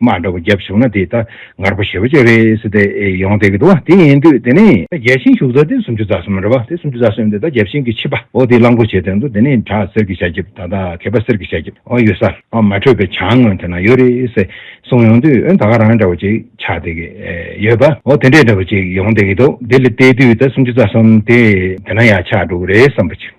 མ་འདྲ་བོ་བརྒྱབ་བྱུང་ན་དེ་ད་ངར་པོ་ཞེ་བོ་བྱས་རེད་ཟེར་ཏེ་ཡོང་བསྡད་ཀྱི་འདུག་བ་དེ་ཡིན་དུས་དེ་ནས། བརྒྱལ་ཞིང་བཞུགས་རྫ་དེ་སུམ་ཅུ་རྫ་གསུམ་མ་འདྲ་བ་དེ་སུམ་ཅུ་རྫ་གསུམ་དེ་ད་བརྒྱལ་ཞིང་གི་ཕྱིས་པ་འོ་དེ་རླངས་འཁོར་བྱས་དོན་དུ་དེ་ནས་བྲག་གསེར་གྱི་ཤ་འཁྱིབས་ད་ད་གད་པ་གསེར་གྱི་ཤ་འཁྱིབས་འོ་ཡོད་ས་འོ་མ་འཕྲོད་པའི་བྱང་ངོས་དེ་ན་ཡོད་རེད་ཟེར་གསུངས་ཡོང་དུས་འོན་ད་ག་རང་འདྲ་བོ་ཅིག་ཆགས་བསྡད་ཀྱི་ཡོད་པ་འོ་དེ་འདྲའི་འདྲ་བོ་ཅིག་ཡོང་བསྡད་ཀྱི་འདུག་དེ་ལ་བལྟས་དུས་ད་སུམ་ཅུ་རྫ་གསུམ་དེ་དེ་ན་ཡང་ཆགས་འདུག་རེད་བསམ་པ་ཅི།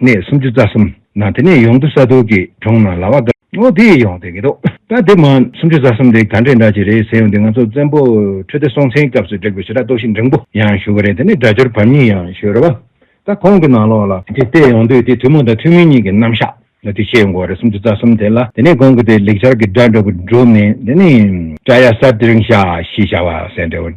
གནས་སུམ་ཅུ་རྩ་གསུམ་ན་དེ་ནས་ཡོངས་འདུ་ས་དུར་གྱི་གྲོང་ན་ལ་བ་དགའ། ཨོ་དེ་ཡི་ཡོང་དེ་གི་དོ། ད་དེ་མ། སུམ་ཅུ་རྩ་གསུམ་དེ་ག་འདྲའི་འདྲ་གཅིག་རེད་ཟེར་ཡོང་དེ་ང་ཚོ་བཙན་པོ་ཁྲི་ལྡེ་སྲོང་བཙན་གྱི་སྐབས་སུ་བསྒྲིགས་པའི་ཞི་དྲག་གཏོར་བཤིག་འབྲིང་པོ་ཡང་ཞུ་གི་རེད་དེ་ནས་སྒྲ་སྦྱོར་བར་གཉིས་ཡང་ཞུ་རེད་བ། ད་ཁོང་གི་ནང་ལོགས་ལ། དེ་བལྟས་ཡོང་དུས་དེ་ཐུན་མོང་དང་ཐུན་མིན་གཉིས་ཀྱི་རྣམ་གཞག་ལ་དེ་ཤེས་ཡོང་གི་བ་རེད་སུམ་ཅུ་རྩ་གསུམ་དེ་ལ་དེ་ནས་གོང་གི་དེ་ལེགས་སྦྱར་གྱི་སྒྲ་འགྲོ་གི་འགྲོ་མིན་དེ་ནི། བཀྲ་ཡ་གསར་དེ་རིང་ཤ་ཞེས་བྱ་བ་ཟེར་འདྲ་བོ།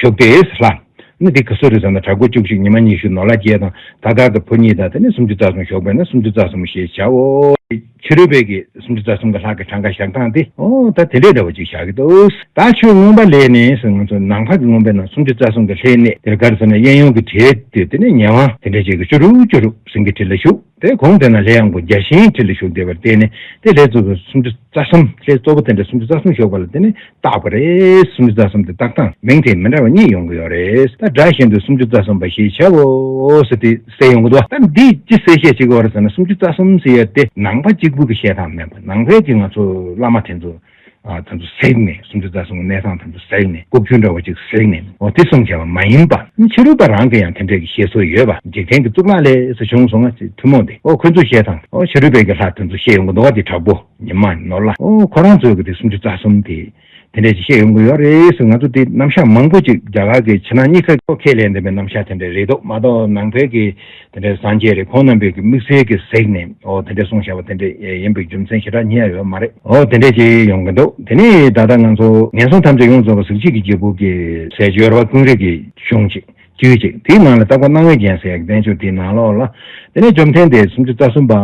ཞོ་པེས་ལྷ། ནི་དེ་གི་གསོ་རིག་ས་ན་གྲགས་དགུ་བཅུ་གཅིག་ཉི་མ་ཉི་ཤུ་ནོར་ལྷ་བརྒྱད་དང་ད་ལྟར་གྱི་ཕོ་གཉིས་དང་དེ་ནས་སུམ་ཅུ་རྩ་གསུམ་ཞོགས་པས་ན་སུམ་ཅུ་རྩ་གསུམ་ཞེས་བྱའོ། ཕྱི་རོལ་པའི་གི་སུམ་ཅུ་རྩ་གསུམ་གྱི་ལྷག་གི་གྲངས་ཀ་བཞག་སྟངས་ཏེ། ད་དེ་འདྲའི་འདྲ་བ་ཅིག་བཞག་གི་འདུག་ད་ཆོས་མངོན་པ་ལས་ནི་སོ་ང་ཚོ་ནམ་མཁའ་གི་མངོན་པས་ན་སུམ་ཅུ་རྩ་གསུམ་གྱི་ལྷའི་གནས་དེར་ག་རེ་ཟེར་ན་གཡས་གཡོན་གྱི་གྲས་དེ་དེ་ནས་ཉེ་བ་དེ་འདྲ་བྱས་ཀྱི་བཅུ་དྲུག་བཅུ་དྲུག་ཟིན་གྱི་དྲིལ་ལ་བཞུགས། དེའི་གོང་དེ་ན་ལས་ཡངས་པོ་བརྒྱ་བྱིན་ཁྲི་ལ་བཞུགས་བདེ་བར་བལྟས་ནས་དེ་ལྷའི་གཙོ་བོས་སུམ་ཅུ་རྩ་གསུམ་ལྷའི་གཙོ་བོ་དེ་འདྲ་སུམ་ཅུ་རྩ་གསུམ་ཞོགས་པ་ལ་དེ་ནི་རྟག་པ་རེད་སུམ་ཅུ་རྩ་གསུམ་དེ་རྟག་དང་མིང་དེ་མི་འདྲ་བ་གཉིས་ཡོང་གི་ཡོད་རེད་ད་སྒྲ་བཞིན་དུ་སུམ་ཅུ་རྩ་གསུམ་པ་ཞེས་བྱ་བའོ་ཟེར་ཏེ་གསལ་ཡོང་གི་འདུག་ད་འདིས་ཅི་གསལ་བཤད་བྱེད་ཀྱི་འོ་རེད་ཟེར་ན་སུམ་ཅུ་རྩ་གསུམ་ཟེར་ཡས་དེ་ནང་པ་གཅིག་པུ་གི་བཤད་སྟངས་མིན་པར་ནང་པའི་གྱི་ང་ཚོ་བླ་མ་དེ་ཚོ་དམ་དུ་བསྲེགས་ནས་སུམ་ཅུ་རྩ་གསུམ་གྱི་གནས་ཁང་དམ་དུ་བསྲེགས་ནས་སྐུ་ཕུད་འདྲ་བ་གཅིག་བསྲེགས་ནས་འོ་དེ་གསུམ་བྱས་པ་མ་ཡིན་པ། ཕྱི་རོལ་པ་རང་གི་ཡང་དེ་འདྲས་ཀྱི་བཤད་སྲོལ་ཡོད་པ་འཇིག་རྟེན་གྱི་གཙུག་ལག་ལས་སུ་བྱུང་སོང་ང་ཐུན་མོང་སྟེ་ཨོ་ཁོས་འདུ་ཤེས་དང་ཨོ་ཕྱི་རོལ་པའི་གི་ལྷ་དེ་ཚོ་བཤད་ཡོང་གི་འདུག་བ་དེ་དྲག་པོ་ཉི་མ་ནོར་ལ་ཨོ་ཁོ་རང་ཚོས་གི་དེ་སུམ་ཅུ་རྩ་གསུམ་དེ་དེ་འདྲས་ཀྱི་བཤད་ཡོང་གི་ཡོད་རེད་ཟེར་ང་ཚོ་དེ་རྣམ་གཞག་མང་པོ་ཅིག་རྒྱ་གར་གྱི་ཕྱི་ནང་གཉིས་ཀ་ཁས་ལེན་བདེན་པའི་རྣམ་གཞག་དེ་འདྲས་རེད་འདུག་མ་གཏོགས་ནང་བལ་གྱི། དེ་འདྲའི་སངས་རྒྱས་རེ་ཁོང་རྣམ་པས་ཀྱི་དམིགས་བསལ་གྱི་གཟིགས་ནས་འོ་དེ་འདྲའི་གསུང་བྱ་བ་དེ་འདྲ་ཡིན་པའི་རྒྱུ་མཚན་ཞེ་དྲག་རྙེད་ཡོད་མ་རེད་འོ་དེ་འདྲས་ཅིག་ཡོང་གི་འདུག་དེ་ནས་ད་ལྟ་ང་ཚོ་ངན་སོང་ཐམས་ཅད་ཡོངས་རྫོགས་པ་གཟུགས་གཅིག་གི་རྒྱལ་པོ་གི་ཟས་སྦྱོར་བ་ཀུན་རིག་གི་གཞུང་ཅིག་རྒྱུད་ཅིག་དེའི་ནང་ལ་བཏགས་པ་སྣང་བའི་རྒྱན་ཟེར་བསྟན་བཅོས་དེའི་ནང་ལོགས་ལ་དེ་ནས་བཅོམ་ལྡན་འདས་སུམ་ཅུ་རྩ་གསུམ་པ་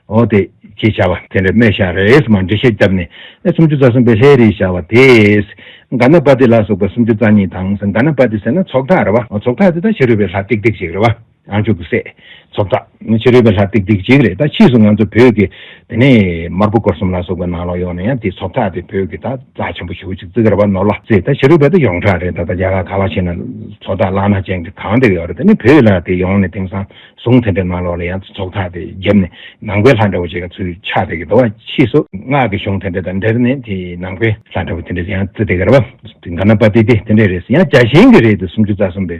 འོ་དེ་ཅེས་བྱ་བ་དེ་འདྲ་སྨྲས་ཤ་རེས་མ་འདྲི་ཤ་བརྒྱབ་ནས་ནས་སུམ་ཅུ་རྩ་གསུམ་པའི་ལྷའི་རིས་བྱ་བ་དེས་ག་ན་པ་ཏི་ལ་སོགས་པའི་སུམ་ཅུ་རྩ་གཉིས་དང་ག་ན་པ་ཏི་ཟེར་ན་ཚོགས་ཐག་རེད་བ་ཚོགས་ཐག་དེ་དག་ཕྱི་རོལ་པའི་ལྷ་ཏིག་ཏིག་ཅིག་རེད་བ། ཡང་ཆུ་བོ་སྲས། ཚོགས་བདག། ཕྱི་རོལ་པའི་ལྷ་སྟེགས་སྡིག་གཅིག་རེད་ད་ཕྱིས་སུ་ང་ཚོ་བོད་ཀྱི། དེ་ནས། དམར་པོ་སྐོར་གསུམ་ལ་སོགས་པའི་ནང་ལོགས་ཡོངས་ནས་ཡང་དེ་ཚོགས་བདག་དེ་བོད་ཀྱི་ད་རྩ་ཆེན་པོ་ཞུགས་ཅིག་བརྩི་གར་བ་ནོར་ལྷ་རྩེ་ད་ཕྱི་རོལ་པའི་ད་ཡོངས་གྲགས་རེད་ད་ད་རྒྱ་གར་ག་ལ་ཕྱིན་ན། ཚོགས་བདག་བླ་ན་ཅན་གྱི་གང་དེ་ཡོད་རེད་དེ་ནས་བོད་ལ་དེ་ཡོངས་ནས་དེང་སང་ཟུང་དེ་འདྲའི་ནང་ལོགས་ལ་ཡང་དེ་ཚོགས་བདག་དེ་རྒྱབ་ནས་ནང་པའི་ལྷ་འདྲ་བོ་བྱེད་ག་ཚུལ་ཆགས་བསྡད་གི་འདུག་བ་ཕྱིས་སུ་སྔགས་ཀྱི་གཞུང་དེ་འདྲ་དང་འབྲེལ་ནས་དེ་ནང་པའི་ལྷ་འདྲ་བོ་དེ་འདྲ་ཡང་བརྩི་བསྡད་གར་བ། དེ་ག་ན་པ་དེ་དེ་དེ་འདྲ་རེད་ཟེར་ཡང་རྒྱ་གཞན་གྱི་རེད་དེ་སུམ་ཅུ་རྩ་གསུམ་པའི།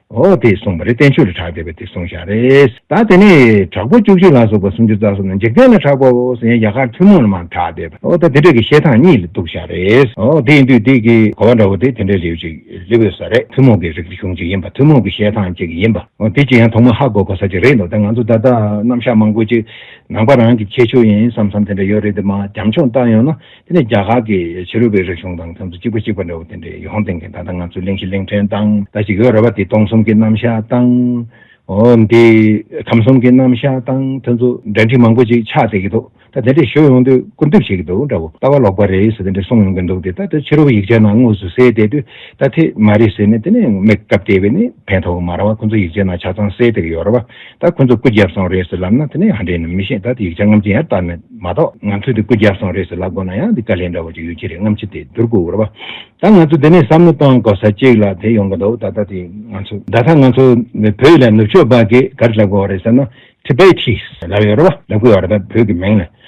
འོ་དེས་གསུངས་པ་རེད་བསྟན་བཅོས་ལ་གྲགས་བསྡད་པ་དེ་གསུངས་བཞག་རེད། ད་དེ་ནས་དྲག་པོ་བཅུ་གཅིག་ལ་སོགས་པ་སུམ་ཅུ་རྩ་གསུམ་ནི་འཇིག་རྟེན་ལ་གྲགས་པའོ་ཟེར་ཡང་རྒྱ་གར་ཐུན་མོང་ལ་མ་གྲགས་བསྡད་པ་འོ་ད་དེ་འདྲ་གི་བཤད་སྟངས་གཉིས་ལ་འདུག་བཞག་རེད། འོ་དེ་ཡིན་དུས་དེ་གི་གོ་བ་འདྲ་བོ་དེ་དེ་འདྲའི་ལེའུ་གཅིག་ལི་འོད་ས་རེད་ཐུན་མོང་གི་རིག་གཞུང་གཅིག་ཡིན་པ་ཐུན་མོང་གི་བཤད་སྟངས་གཅིག་ཡིན་པ་འོ་དེ་གཅིག་ཡང་ཐོག་མ་ཧ་གོ་གོ་ས་གཅིག་རེད་འདུག་ད་ང་ཚོ་ད་ལྟ་རྣམ་གཞག་མང་པོ་གཅིག་ནང་པ་རང་གི་ཁྱད་ཆོས་ཡིན་བསམ་བསམ་དེ་འདྲ་ཡོད་རེད་དེ་མ་འཇམ་ཆུང་བཏགས་ཡོང་ན་དེ་ནི་རྒྱ་གར་གྱི་ཕྱི་རོལ་པའི་རིག་གཞུང་དང་མཚམས་སུ་གཅིག་པ་གཅིག་པ་འདྲ་བོ་དེ་འདྲའི་ཡོང་དེངས་མཁན་ད་ལྟ་ང་ཚོའི་གླེང་གཞི་གླེང་ཕྲན་དང་ལྟ་ཞིག་ཡོད་རེད་པ་དེ་སྟོང་གསུམ་གྱི་རྣམ་གཞག་དང། འདི་ཁམས་གསུམ་གྱི་རྣམ་གཞག་དང་དེ་ཚོ་འབྲེལ་འདྲིས་མང་པོ་ཅིག་ཆགས་བསྡད་ཀྱི་འདུག་ད་དེ་འདྲའི་ཞུ་ཡོང་དུས་སྐུར་འདེབས་བྱེད་ཀྱི་འདུག་འདྲ་བོ་ལྟ་བ་ལོག་པ་རེད་ཟེར་དེ་འདྲ་གསུངས་ཡོང་གི་འདུག་དེ་ལྟར་དུ་ཕྱི་རོལ་པོ་ཡིག་ཆའི་ནང་དངོས་སུ་གསལ་བསྡད་དུས་ད་དེ་མ་རེད་ཟེར་ནས་དེ་ནས་མེད་སྐབས་དེ་བས་ནི་ཕན་ཐོགས་མ་ར་བ་ཁོང་ཚོ་ཡིག་ཆའི་ནང་ཆ་ཚང་གསལ་བསྡད་ཀྱི་ཡོད་རེད་པ། ད་ཁོ་ཚོ་སྐུ་བརྒྱབ་སོང་རེད་ཟེར་ལབ་ན་དེ་ནི་ཧ་འདྲེ་ནི་མི་ཤེས་ད་དེ་ཡིག་ཆ་རྔམ་ཆེན་ཡར་བཏབ་མེད་མ་གཏོགས་ང་ཚོས་དེ་སྐུ་བརྒྱབ་སོང་རེད་ཟེར་ལབ་དགོས་ན་ཡང་དེ་དཀའ་ལས་འདྲ་བོ་ཅིག་ཡོད་ཀྱི་རེད་རྔམ་ཆེན་དེ་བསྡུར་དགོས་རེད་པ། ད་ང་ཚོས་དེ་ནས་བསམ་བློ་གཏོང་དགོས་ས་གཅིག་ལ་དེ་ཡོང་གི་འདུག་ད་ལྟ་དེ་ང་ཚོས་ད་ལྟ་ང་ཚོ་བོད་ཡིག་ལ་ནུབ་ཕྱོགས་པ་གིས་ག་རེ་ལབ་དགོས་རེད་ཟེར་ན Tibetis ལབ་ཡོད་རེད་པ་ལབ་དགོས་ཡོད་རེད་པ་བོད་ཀྱི་མིང་ལ།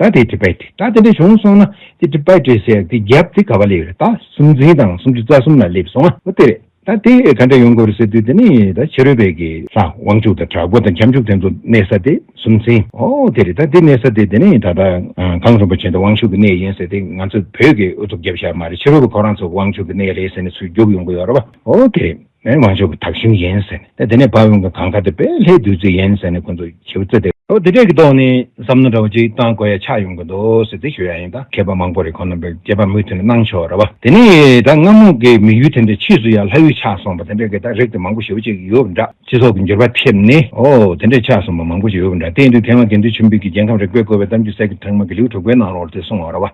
ད་དེ་དྲི་བས་དྲི་ད་དེ་འདྲ་བྱུང་སོང་ན་དེ་དྲི་བས་དྲི་ཟེར་དེ་རྒྱབ་དེ་ག་བ་ལེ་རེད་ད་སུམ་འཛིན་དང་སུམ་ཅུ་རྩ་གསུམ་ལ་སླེབས་སོང་ང་དེ་རེད་ད་དེ་ག་འདྲ་ཡོང་དགོས་རེད་ཟེར་དུས་དེ་ནི་ད་ཕྱི་རོལ་བས་ཀྱི་ལྷ་དབང་ཕྱུག་དང་དྲག་པོ་དང་ཁྱབ་འཇུག་དེ་ཚོ་གནས་ས་དེ་སུམ་འཛིན་ཨོ་དེ་རེད་ད་དེ་གནས་ས་དེ་དེ་ནི་ད་ལྟ་གངས་རིན་པོ་ཆེ་དང་དབང་ཕྱུག་གི་གནས་ཡིན་ཟེར་དེ་ང་ཚོ་བོད་ཀྱི་ཨུ་ཚུགས་རྒྱབ་ཤག་མ་རེད་ཕྱི་རོལ་བས་ཁོ་རང་ཚོ་དབང་ཕྱུག་གི་གནས་རེད་ཟེར་ནས་ཚུར་རྒྱུག་ཡོང་གི་ཡོད་རེད་པ་ཨོ་དེ་རེད། མོས་མ་འཇོག་གི་དག་ཞིང་ཡིན་ཟེར་ནས་དེ་ནས་བབས་ཡོང་གི་གངས་དཀར་དེ་བས་ལྷའི་བདུད་རྩི་ཡིན་ཟེར་ནས་ཁོ་ཚོས་ཁྱེའུ་ཚེ་དེ་ལོ་དེ་འདྲས་ཀྱི་ཐོག་ནས་བསམ་མནོ་འདྲ་བོ་ཅིག་བཏང་དགོས་ཡ་ཆགས་ཡོང་གི་འདུག་ཟེར་ཚིག་ཤོད་ཡ་ཡིན་ད་མཁས་པ་མང་པོ་རེད་ཁོང་རྣམ་པས་སྐྱེས་པ་མུ་མཐུད་ནས་གནང་ཆོག་ར་བ་དེ་ནས་ད་སྔ་མོ་གི་མི་ཡུལ་དེ་འདྲའི་ཕྱིས་སུ་ཡང་ལྷ་ཡུལ་ཆགས་སོང་བ་དེ་འདྲས་ཀྱི་ད་རིགས་དེ་མང་པོ་ཞིག་ཡོད་ཅིག་ཡོད་འདྲ་སྤྱི་ཚོགས་ཀྱི་འགྱུར་བ་ཐེབས་ནས་ཨོ་དེ་འདྲས་ཆགས་སོང་བ་མང་པོ་ཞིག་ཡོད་འདྲ་དེ་ཡིན་དུས་དེ་སྔ་དགེ་འདུན་ཆོས་འཕེལ་གྱིས་རྒྱལ་ཁམས་རིག་པའི་བཀོལ་བའི་གཏམ་རྒྱུད་གསེར་གྱི་ཁྲག་དམར་གྱི་ལེའུ་དྲུག་པའི་ནང་ལོར་དེ་གསུང་བ་ར་བ།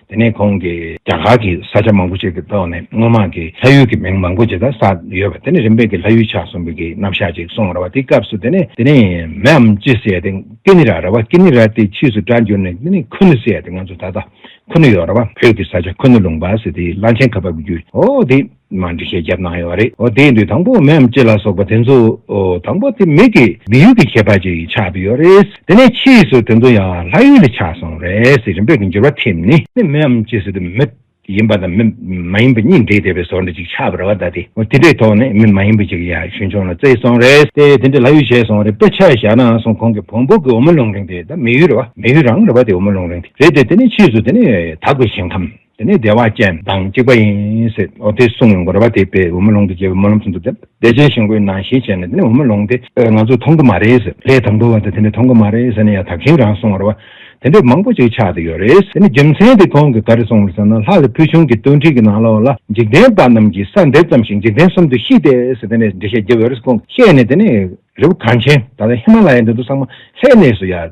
དེ་ནས་ཁོང་གིས་རྒྱ་གར་གྱི་ས་ཆ་མང་པོ་ཞིག་གི་ཐོག་ནས་སྔོན་མ་གི་ལྷ་ཡུལ་གྱི་མིང་མང་པོ་ཇི་ལྟར་བསགས་ཡོད་པ་དེ་ནི་རིམ་པས་ཀྱི་ལྷ་ཡུལ་ཆགས་སོང་བའི་གི་རྣམ་བཞག་ཅིག་གསུངས་ར་བ་དེའི་སྐབས་སུ་དེ་ནི་དེ་ནི་མེའམ་ཅི་ཟེར་ཏེ་ཀི་ནི་ར་ར་བ་ཀི་ནི་ར་དེའི་ཕྱིས་སུ་སྒྲ་འགྱུར་ནས་དེ་ནི་ཁུ་ནུ་ཟེར་ཏེ་ང་ཚོ་ད་ལྟ་ཁུ་ནུ་ཡོད་ར་བ་བོད་ཀྱི་ས་ཆ་ཁུ་ནུ་ལུང་པ་ཟེར་དེའི་བླ་ཆེན་གབ་པ་བརྒྱུད་འོ་དེ། མ་འདྲི་ཞེས་བརྒྱབ་གནང་ཡོད་པ་རེད། འོ་དེའི་འདུས་དང་པོ་མེའམ་ལྕེ་ལ་སོགས་པ་དེ་ཚོ། དང་པོ་དེ་མིག་གི་སྦི་ཡུལ་གྱི་ཁྱད་པར་གྱིས་ཆགས་པ་ཡོད་རེད། དེ་ནས་ཕྱིས་སུ་དེ་ཚོ་ཡང་ལྷ་ཡུལ་ལས་ཆགས་སོང་རེད་ཟེར་རིམ་པས་འགྱུར་བ་ཐེབས་ནས། མེའམ་ལྕེ་ཟེར་དུས་མི། ཡིན་པ་དང་མི། མ་ཡིན་པ་གཉིས་འདྲེས་བསྡད་པའི་ཟོར་འདྲེ་ཅིག་ཆགས་པ་རེད་བ་ད་དེ། དེ་འདྲའི་ཐོག་ནས་མི་མ་ཡིན་པ་ཅིག་ཡར་ཞུན་ཆུང་ལ་བརྩེགས་སོང་རེད་དེ། དེ་འདྲས་ལྷ་ཡུལ་བྱས་སོང་རེད་དཔེ་ཆ་བཞག་ནའང་སོང་ཁོང་གི་བོང་བུ་གི་འོ་མ་རླུང་རིང་དེ་ད་མི་ཡུལ་རེད་བ། མི་ཡུལ་རང་རེད་བ་དེ་འོ་མ་རླུང་རིང་དེ་རེད་དེ་དེ་ནས་ཕྱིས་སུ་དེ་ནི་དྭགས་པའི་ཞིང་ཁམས། དེ་ནས་བདེ་བ་ཅན་དང་གཅིག་པ་ཡིན། འོ་དེ་གསུང་ངོ་རེ་བ་དེ་པས་འོ་མ་ལོང་དུ་བརྒྱལ་བའི་སྨོན་ལམ་ཚུན་དུ་བསྟན། བདེ་ཆེན་ཞིང་ཁོའི་ནང་བཞིན་བྱས་ནས་དེ་ནས་འོ་མ་ལོང་དེ་ང་ཚོས་མཐོང་གི་མ་རེད། ལས་དང་པོ་བ་དེ་དེ་ནས་མཐོང་གི་མ་རེད་ཟེར་ནས་ཡང་དག་ཞིང་རང་གསུང་ངོ་རེ་བ་དེ་འདྲས་མང་པོ་ཅིག་ཆགས་ཏེ་ཡོད་རེད། དེ་ནས་རྒྱུ་མཚན་དེ་ཁོང་གིས་ག་རེ་གསུང་བར་སེམས་ན་ལྷ་ལ་ཕུལ་བྱུང་གི་བསྟོད་འཕྲིན་གྱི་ནང་ལོགས་ལ་འཇིག་རྟེན་པ་རྣམས་ཀྱི་ས་འདེབས་ཙམ་ཞིག་འཇིག་རྟེན་གསུམ་དུ་ཤི་སྟེ་ཟེར་དེ་ནས་འགྲེལ་བཤད་བགྱི་བར་ཁོང་གིས་བཤད་ནས་དེ་ནས་རི་བོ་གངས་ཆེན་ད་ལྟ་ཧི་མ་ལ་ཡའི་མདུན་དུ་སངས་མ་ལྷའི་གནས་སུ་ཡལ།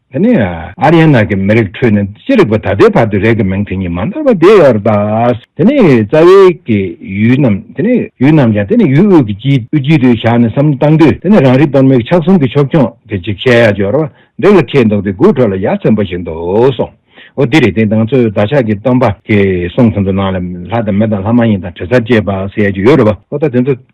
དེ་ནས་ཨ་རིའི་ནང་གི་མི་རིགས་ཁྲོད་ནས་ཅི་རིགས་པ་ད་ལྟའི་བར་དུ་རེག་གི་མིང་དེ་གཉིས་མ་འདོར་བ་དེ་ཡོད་རེད་དཱ། དེ་ནས་རྩ་བའི་གི་ཡུལ་རྣམས་དེ་ནས་ཡུལ་རྣམས་ཀྱང་དེ་ནས་ཡུལ་དབུས་ཀྱི་སྤྱི་དབུས་དཀྱིལ་དུ་བཞག་ནས་བསམ་བློ་བཏང་དུས་དེ་ནས་རང་རིག་གཏོར་མའི་གི་ཕྱག་གསུམ་གི་ཕྱོགས་སྐྱོང་གི་འཇིགས་བྱེད་ཡ་སྦྱོར་བ་འདི་ལ་ཁེལ་འདུག་དེ་དགུའི་ཁྲོད་ལ་ཡ་ཚན་པོ་ཞིག་འདུག་གསུངས། འོ་དེ་རེད་དེ་དང་ཚོས་བདག་ཅག་གི་སྟོན་པ་གི་གསུང་ཚན་དུ་ནང་ལ་ལྷ་དང་མི་དང་ལྷ་མ་ཡིན་དང་དྲི་ཟ་ཅེས་པ་ཟེར་ཡ་གི་ཡོད་རེད་བ་འོ་ད་དེ་ཚོ།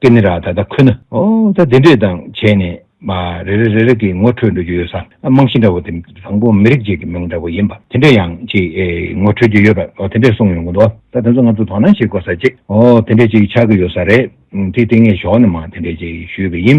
ཀེ་ནི་ར་ད་ལྟ་ཁོ་ན་ཨོ་ད་དེ་འདྲས་དང་བྱས་ནས་མ་རེ་རེ་རེ་རེ་གི་ངོ་འཕྲོད་འགྲོ་རྒྱུ་ཡོད་ས་རྨང་གཞི་འདྲ་བོ་དེ་དང་པོ་མི་རིགས་གཅིག་གི་མིང་འདྲ་བོ་ཡིན་པ་དེ་འདྲས་ཡང་ཅིག་ངོ་འཕྲོད་རྒྱུ་ཡོད་པ་ཨོ་དེ་འདྲས་གསུངས་ཡོང་གི་འདུག་ད་དེ་ཚོ་ང་ཚོ་དོ་སྣང་བྱེད་དགོས་ས་ཅིག་ཨོ་དེ་འདྲས་ཅིག་ཆགས་ཀྱི་ཡོད་ས་རེད་དེ་དེ་ངས་ཞོགས་ནས་མ་དེ་འདྲས་ཅིག་ཞུས་པ་ཡིན་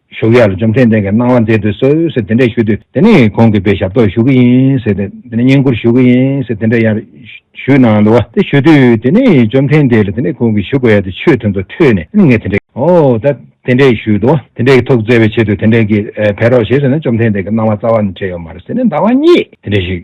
བཞུགས་ཡར་འཇོམས་མཚན་ལྡན་གྱི་གནང་བ་མཛད་དུ་གསོལ་ཟེར་དེ་འདྲས་ཞུས་དུས་དེ་ནས་གོང་གི་བའི་ཞབས་ཏོག་ཞུ་གི་ཡིན་ཟེར་ཏེ་དེ་ནས་བསྙེན་བཀུར་ཞུ་གི་ཡིན་ཟེར་དེ་འདྲས་ཡར་ཞུས་གནང་ལུགས་ཨ་དེ་ཞུས་དུས་དེ་ནས་འཇོམས་མཚན་ལྡན་ལ་དེ་ནས་གོང་གི་ཞུ་དགོས་ཡ་དེ་ཆོས་ཐུན་ཚོགས་ཁྲོད་ནས་ནི་ངས་དེ་འདྲས་ཨོ་ད་དེ་འདྲས་ཞུས་དུ་དེ་འདྲས་ཀྱི་ཐུགས་བརྩེ་བའི་ཆེད་དུ་དེ་འདྲས་ཀྱི་བས་རོགས་ཞེས་ཟེར་ན་འཇོམས་མཚན་ལྡན་གྱི་གནང་བ་རྩ་བ་ནས་བྲལ་ཡོད་མ་རེད་ཟེར་ནས་ཟླ་བ་གཉིས་དེ་འདྲས་ཞུས།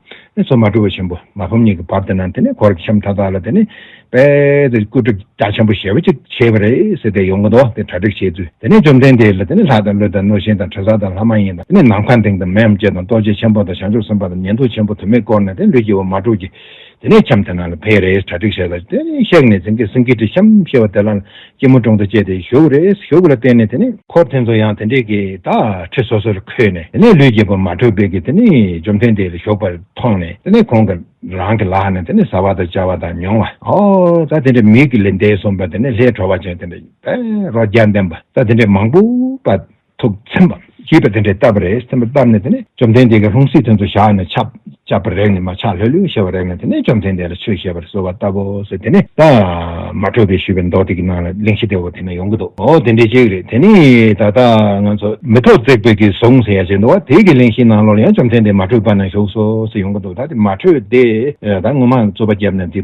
ནས་སོ་མ་སྤྲུལ་བ་ཆེན་པོ་མ་ཕམ་གཉིས་ཀྱི་བར་དེ་ན་དེ་ནས་འཁོར་གྱི་ཁྱམས་མཐའ་དག་ལ་དེ་ནས་དཔལ་དེ་སྐུ་སྒྲུབ་རྒྱ་ཆེན་པོ་ཞེས་པ་ཅིག་བྱས་པ་རེད་ཟེར་ཏེ་ཡོང་གི་འདུག་དེ་གྲ་སྒྲིག་བྱས་ཚུལ་དེ་ནས་བཅོམ་ལྡན་འདས་ལ་དེ་ནས་ལྷ་དང་ཀླུ་དང་གནོད་སྦྱིན་དང་དྲི་ཟ་དང་ལྷ་མ་ཡིན་དང་དེ་ནས་ནམ་མཁའ་ལྡིང་དང་མི་འམ་ཅི་དང་རྡོ་རྗེ་ཆེན་པོ་དང་བྱང་ཆུབ་སེམས་དཔའ་དང་ཉན་ཐོས་ཆེན་པོ་དུ་མས་བསྐོར་ནས་དེ་ནས་ལུས་ཀྱི་བ་མ་དྲུག་གིས་དེ་ནས་ཁྱམས་དེ་ན་ལ་ཕེབས་རེད་གྲ་སྒྲིག་བྱས་ལ་དེ་ནས་གཤེགས་ནས་རྫིང་གི་སེང་གེ་ཁྲི་ཁྱམས་ཞེས་པ་དེ་ལ་སྐྱིལ་མོ་ཀྲུང་དང་བཅས་ཏེ་བཞུགས། རེས་བཞུགས་ལ་བརྟེན་ནས་དེ་ནི། འཁོར་དེ་ཚོ་ཡང་དེ་འདྲས་ཀྱི་དག་ཁྲི་སོ་སོར་འཁོད་ནས་དེ་ནས་ལུས་རྒྱས་པ་མ་གྲུབ་པས་ཀྱི་དེ་ནི་འཇོམས་ཐོན་དེ་ལ་བཞུགས་པར་མཐོང་ནས་དེ་ནས་གོང་གི་རང་གི་ལག་ནས་དེ་ནི་བཟའ་བ་དང་བཅའ་བ་དང་མྱོང་བ། ཧོ། ད་དེ་འདྲས་མིག་གི་ལས་འདས་གསུངས་པ་དེ་ནས་ལྷའི་བྲོ་བ་ཅན་དེ་འདྲས་པས་རོ་བརྒྱ་ལྡན་པ་ད་དེ་འདྲས་མང་པོ་པ། ཐུགས་མཚན་པ། ཞེས་པ་དེ་འདྲའི་བཏབ་པ་རེད་མཚན་པ་བཏབ་ནས་དེ་ནས་བཅོམ་ལྡན་འདས་ཀྱི་ལྷུང་བཟེད་དོན་དུ་བཞག་ནས་ཆབ་ཆབ་པར་རེག་ནས་མ་ཆགས་ལྷོད་ལྷོད་ཞེས་པར་རེག་ནས་དེ་ནས་བཅོམ་ལྡན་འདས་ལ་ཆོས་བཤད་པར་གསོལ་བ་བཏབ་བོ་ཟེར་དེ་ནས་ད། མ་ཁྲོས་པའི་ཞུས་པའི་མདོག་དེ་ཀྱི་ནང་ལ་གླིང་བཞི་དེ་འོ་དེ་ན་ཡོང་གི་འདུག་འོ་དེ་འདྲའི་གཅིག་རེད་དེ་ནས་ད་ལྟ་ང་ཚོ། མི་ཐོག་བརྩེགས་པའི་གིས་བཟུང་ཟེར་ཡ་བྱེད་འདུག་བ་དེ་ཀྱི་གླིང་བཞིའི་ནང་ལོགས་ལ་ཡང་བཅོམ་ལྡན་འདས་མ་ཁྲོས་པ་ན་བཞུགས་སོ་ཟེར་ཡོང་གི་འདུག་ད་དེ་མ་ཁྲོས་དེ་ད་ངོ་མ་རྩོད་པ་བརྒྱབ་ནས་དེ།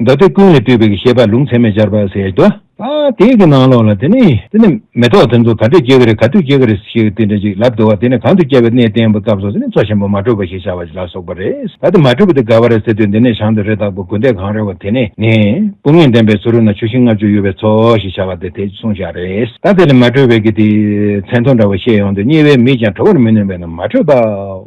བདག་འདོད་ཀུན་ལས་སྤྲུལ་པའི་ཤེས་པ་ལུང་ཚད་མེད་སྦྱར་བར་ཟད་དོ། ད་དེ་གི་ནང་ལོགས་ལ་དེ་ནི། དེ་ནི་མེ་ཏོག་དེ་ཚོ་ག་འདྲས་སྐྱེ་གི་རེད་ག་དུས་སྐྱེ་གི་རེད་ཞེས་དེ་འདྲ་ཅིག་ལབ་འདུག་བ་དེ་ནི་གང་དུ་སྐྱེ་བའི་གནས་བརྟན་པོ་སྐབས་སོགས་དེ་ནི་མཚོ་ཆེན་པོ་མ་དྲོས་པ་ཞེས་བྱ་བ་ལ་སོགས་པ་རེད་ད་དེ་མ་དྲོས་པ་དེ་ག་བ་རེད་ཟེར་དུས་འདི་ནས་བྱང་དུ་རེ་དྭགས་པོ་དགུན་ཟླས་གང་རེ་བ་དེ་ནི་ནི། སྤུ་ངན་ལྡན་པའི་སུ་རུ་ན་ཆུ་ཤིང་ལྔ་བཅུ་ཡོད་པའི་མཚོ་ཞེས་བྱ་བ་དེ་དེ་གསུངས་བཞག་རེད་ད་དེ་ལས་མ་དྲོས་པའི་གི་དེ། མཚན་ཐོ་འདྲ་བ་བཤད་ཡོང་དུས་རྙེད་པའི་མིས་ཀྱང་དྲོ་བར་མི་ནུས་པས་ན་མ་དྲོས་པའོ།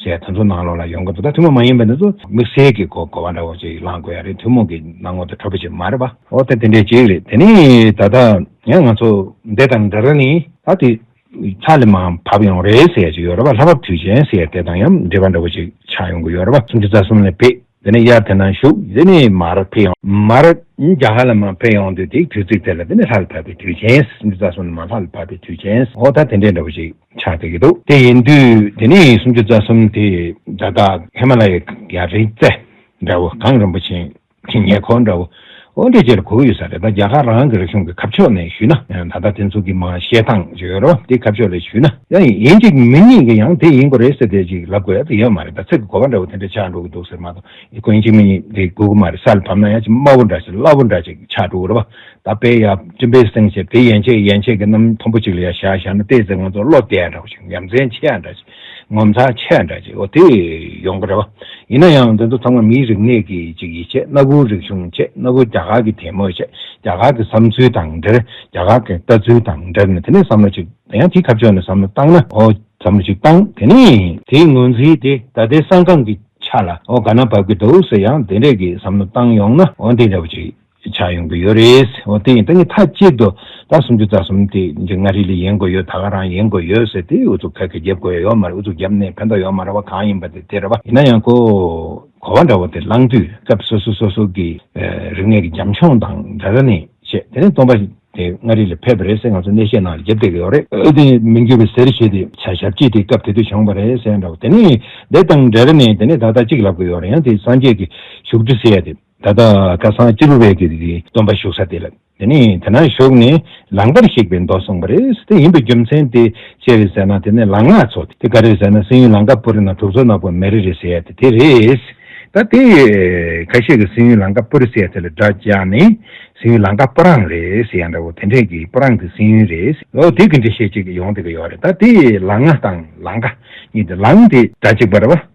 ཞེས་ད་ཚོ་ནང་ལོགས་ལ་ཡོང་སྐབས་ད་ཐུན་མོང་མ་ཡིན་པ་འདི་ཚོ་དམིགས་བསལ་གྱི་གོ་བ་འདྲ་བོ་ཞིག་བླངས་དགོས་ཡ་རེད་ཐུན་མོང་གི་སྣང་ངོར་དུ་འཕྲོད་པ་ཞིག་མ་རེད་པ། འོ་དེ་དེ་འདྲའི་གཅིག་རེད་དེ་ནས་ད་ལྟ་ཡང་ང་ཚོ་འདི་དང་འདི་རུ་ནི། ད་དེ་ལྷ་ལི་མང་བབས་ཡོང་རེད་ཟེར་གྱི་ཡོད་རེད་པ་ལྷ་བབས་དུས་ཆེན་ཟེར་དེ་དང་ཡང་འབྲེལ་བ་འདྲ་བོ་ཞིག་ཆགས་ཡོང་གི་ཡོད་རེད་པ་སུམ་ཅུ་རྩ་གསུམ་ལས་བེད། དེ་ནས་དབྱར་དེ་ན་བཞུགས་འདི་ནས་མར་འཕེལ་ཡོང། མར་རྒྱ་གར་ལ་མ་འཕེལ་ཡོང་དུས་དེའི་དུས་ཚིགས་དེ་ལ་དེ་ནས་ལྷ་ལ་བབས་པའི་དུས་ཆེན་སུམ་ཅུ་རྩ་གསུམ་ནས་མར་ལྷ་ལ་བབས་པའི་དུས་ཆེན་ཧོ་ད་དེ་འདྲའི་འདྲ་པོ་ཞིག་ཆགས་འདུག་གི་འདུག་དེ་ཡིན་དུས་དེ་ནས་སུམ་ཅུ་རྩ་གསུམ་དེ་བརྡ་རྟགས་ཧེ་མ་ལ་ཡའི་རི་རྩེ་འདྲ་བོ་གངས་རིན་པོ་ཆེའི་ཉེ་འཁོར་འདྲ་བོ། འོན་ཏེ་དེར་གོ་ཡོད་ས་རེད་ད་རྒྱ་གར་རང་གི་རིག་གཞུང་གི་ཁ་ཕྱོགས་ནས་ཞུས་ན་ད་ལྟ་དེ་ཚོ་གི་མ་ཤེས་སྟངས་ཇི་ཡོད་རོ་དེ་ཁ་ཕྱོགས་ལས་ཞུས་ན་ཡང་ཡིན་གཅིག་མི་གཉིས་ཀྱི་ཡང་དེ་ཡིན་གོ་རེད་ཟེར་དེ་ཅིག་ལབ་དགོས་ཡོད་མ་རེད་ད་ཚིག་གི་གོ་བ་འདྲ་བོ་དེ་འདྲ་ཆགས་འགྲོ་གི་འདུག་ཟེར་མ་གཏོགས་ཡིན་གོ་ཡིན་གཅིག་མི་གཉིས་དེ་དགོས་གི་མ་རེད་ས་ལ་བབ་ན་ཡང་ཅིག་དམའ་བོ་འདྲ་ཅིག་སླ་བོ་འདྲ་ཅིག་ཆགས་འགྲོ་གི་རེད་བ་ད་དཔེ་ཡང་སྤྲིན་པའི་གསེང་ཞེས་དེ་ཡན་ཆད་ཡན་ཆད་ཀྱི་རྣམ་མཐོན་པོ་ཅིག་ལ་ཡང་བཞག་བཞག་ན་བལྟས་ཚེ་ང་ཚོ་བློ་བདེ་འདྲ་བོ་ཞིག་ཡ་མཚན་ཆེ་ཡ་འདྲ་ཅིག་ངོ་མཚར་ཆེ་འདྲ་ཅིག་འོ་དེ་ཡོང་གི་རེད་བ། ཡིན་ན་ཡང་འདི་ཚོ་ཚང་མ་མིའི་རིག་གནས་ཀྱི་ཅིག་ཡིད་ཆེས་སྣ་བུག་རིག་གཞུང་ཆེད་སྣ་བུག་རྒྱ་གར་གྱི་དད་མོས་ཆེད་རྒྱ་གར་གྱི་བསམ་ཚུལ་དང་འབྲེལ་རྒྱ་གར་གྱི་ལྟ་ཚུལ་དང་འབྲེལ་ནས་དེ་ནས་བསམ་བློ་ཅིག་ད་ཡང་དེའི་ཁ་ཕྱོགས་ནས་བསམ་བློ་བཏང་ན་འོ་བསམ་བློ་ཅིག་བཏང་དེ་ནས། དེའི་ངོས་འཛིན་དེ་ད་ལྟའི་ས་འགང་གི་ཆ་ལ་འོ་ག་ན་བབ་ཀྱི་འདུག་ཟེར་ཡང་དེ་འདྲས་ཀྱི་བསམ་བློ་བཏང་ཡོང་ན་འོ་འདི་འདྲ་བོ་ཅིག་ཞིག་ཆགས་ཡོང་གི་ཡོད་རེད། འོ་དེ་ཡིན་ད་ངས་མཐའ་གཅིག་ཏུ་ད་སུམ་ཅུ་རྩ་གསུམ་དེ་འདི་མངའ་རིས་ལས་ཡིན་དགོས་ཡོད་ད་ག་རང་ཡིན་དགོས་ཡོད་ཟེར་དེ་ཨུ་ཚུགས་ཁ་ཁ་བརྒྱབ་དགོས་ཡ་ཡོད་མ་རེད་ཨུ་ཚུགས་བརྒྱབ་ནས་ཕན་ཐོགས་ཡོད་མ་རེད་བ་གང་ཡིན་པ་དེ་དེ་རེད་བ། ཡིན་ན་ཡང་གོ། གོ་བ་འདྲ་བོ་དེ་བླངས་དུས་སྐབས་སོ་སོ་སོ་སོ་གི་རིག་གནས་ཀྱི་འཇམ་འཕྱོང་དང་འདྲ་འདྲ་ནས་བཤད་དེ་ནས་སྟོང་པ་དེ་མངའ་རིས་ལས་ཕེབས་པ་རེད་ཟེར་ང་ཚོ་གནས་བཤད་ནང་ལ་བརྒྱབ་བསྡད་ཀྱི་ཡོད་རེད། ཨོ་དེ་མི་འགྱུར་བའི་ཟེར་ཞེས་དེ་བྱ་ཞབས་ཀྱིས་དེ་སྐབས་དེ་དུས་བྱུང་བ་རེད་ཟེར་འདྲ་བོ་དེ་ནས་འདི་དང་འདྲ་འདྲ་ནས་དེ་ནས་ད་ལྟ་གཅིག་ལབ་ཀྱི་ཡོད་རེད་ཡང་དེ་སངས་རྒྱས་ཀྱི་བཞུགས་ཁྲི་ཟེར་ཡ་དེ། ད་ལྟ་སྐལ་བཟང་སྤྱི་བླུ་བས་ཀྱི་སྟོན་པ་བཞུགས་ས་དེ་ལ་དེ་ནས་དེ་ན་བཞུགས་ནས་ལང་པར་གཤེགས་པའི་མདོ་གསུངས་པ་རེད་དེ་ཡིན་པའི་རྒྱུ་མཚན་དེ་ཅི་རེད་ཟེར་ན་དེ་ནས་ལང་སྔགས་ཚོགས་དེ་ག་རེད་ཟེར་ན་སེམས་ཡུལ་ལང་ཀ་པུ་རི་ན་གྲུབ་ཚོགས་ནག་པོ་མེ་རི་རེད་ཟེར་ཡ་དེ་དེ་རེད། ད་དེ་ཁ་ཤས་ཀྱི་སེམས་ཡུལ་ལང་ཀ་པུ་རི་ཟེར་ཡ་དེ་ལ་སྒྲ་རྒྱག་ནས་སེམས་ཡུལ་ལང་ཀ་པུ་རང་རེད་ཟེར་ཡ་འདྲ་བོ་དེ་འདྲས་ཀྱི་པུ་རང་གི་སེམས་ཡུལ་རེད་ཨོ་དེ་གི་འགྲེལ་བཤད་ཅིག་ཡོང་དེ་གི་ཡོད་རེད་ད་དེ་ལང་སྔགས་དང་ལང་ཀ་གཉིས་དེ་ལང་དེ་སྒྲ་གཅིག་པ་རེད་བ།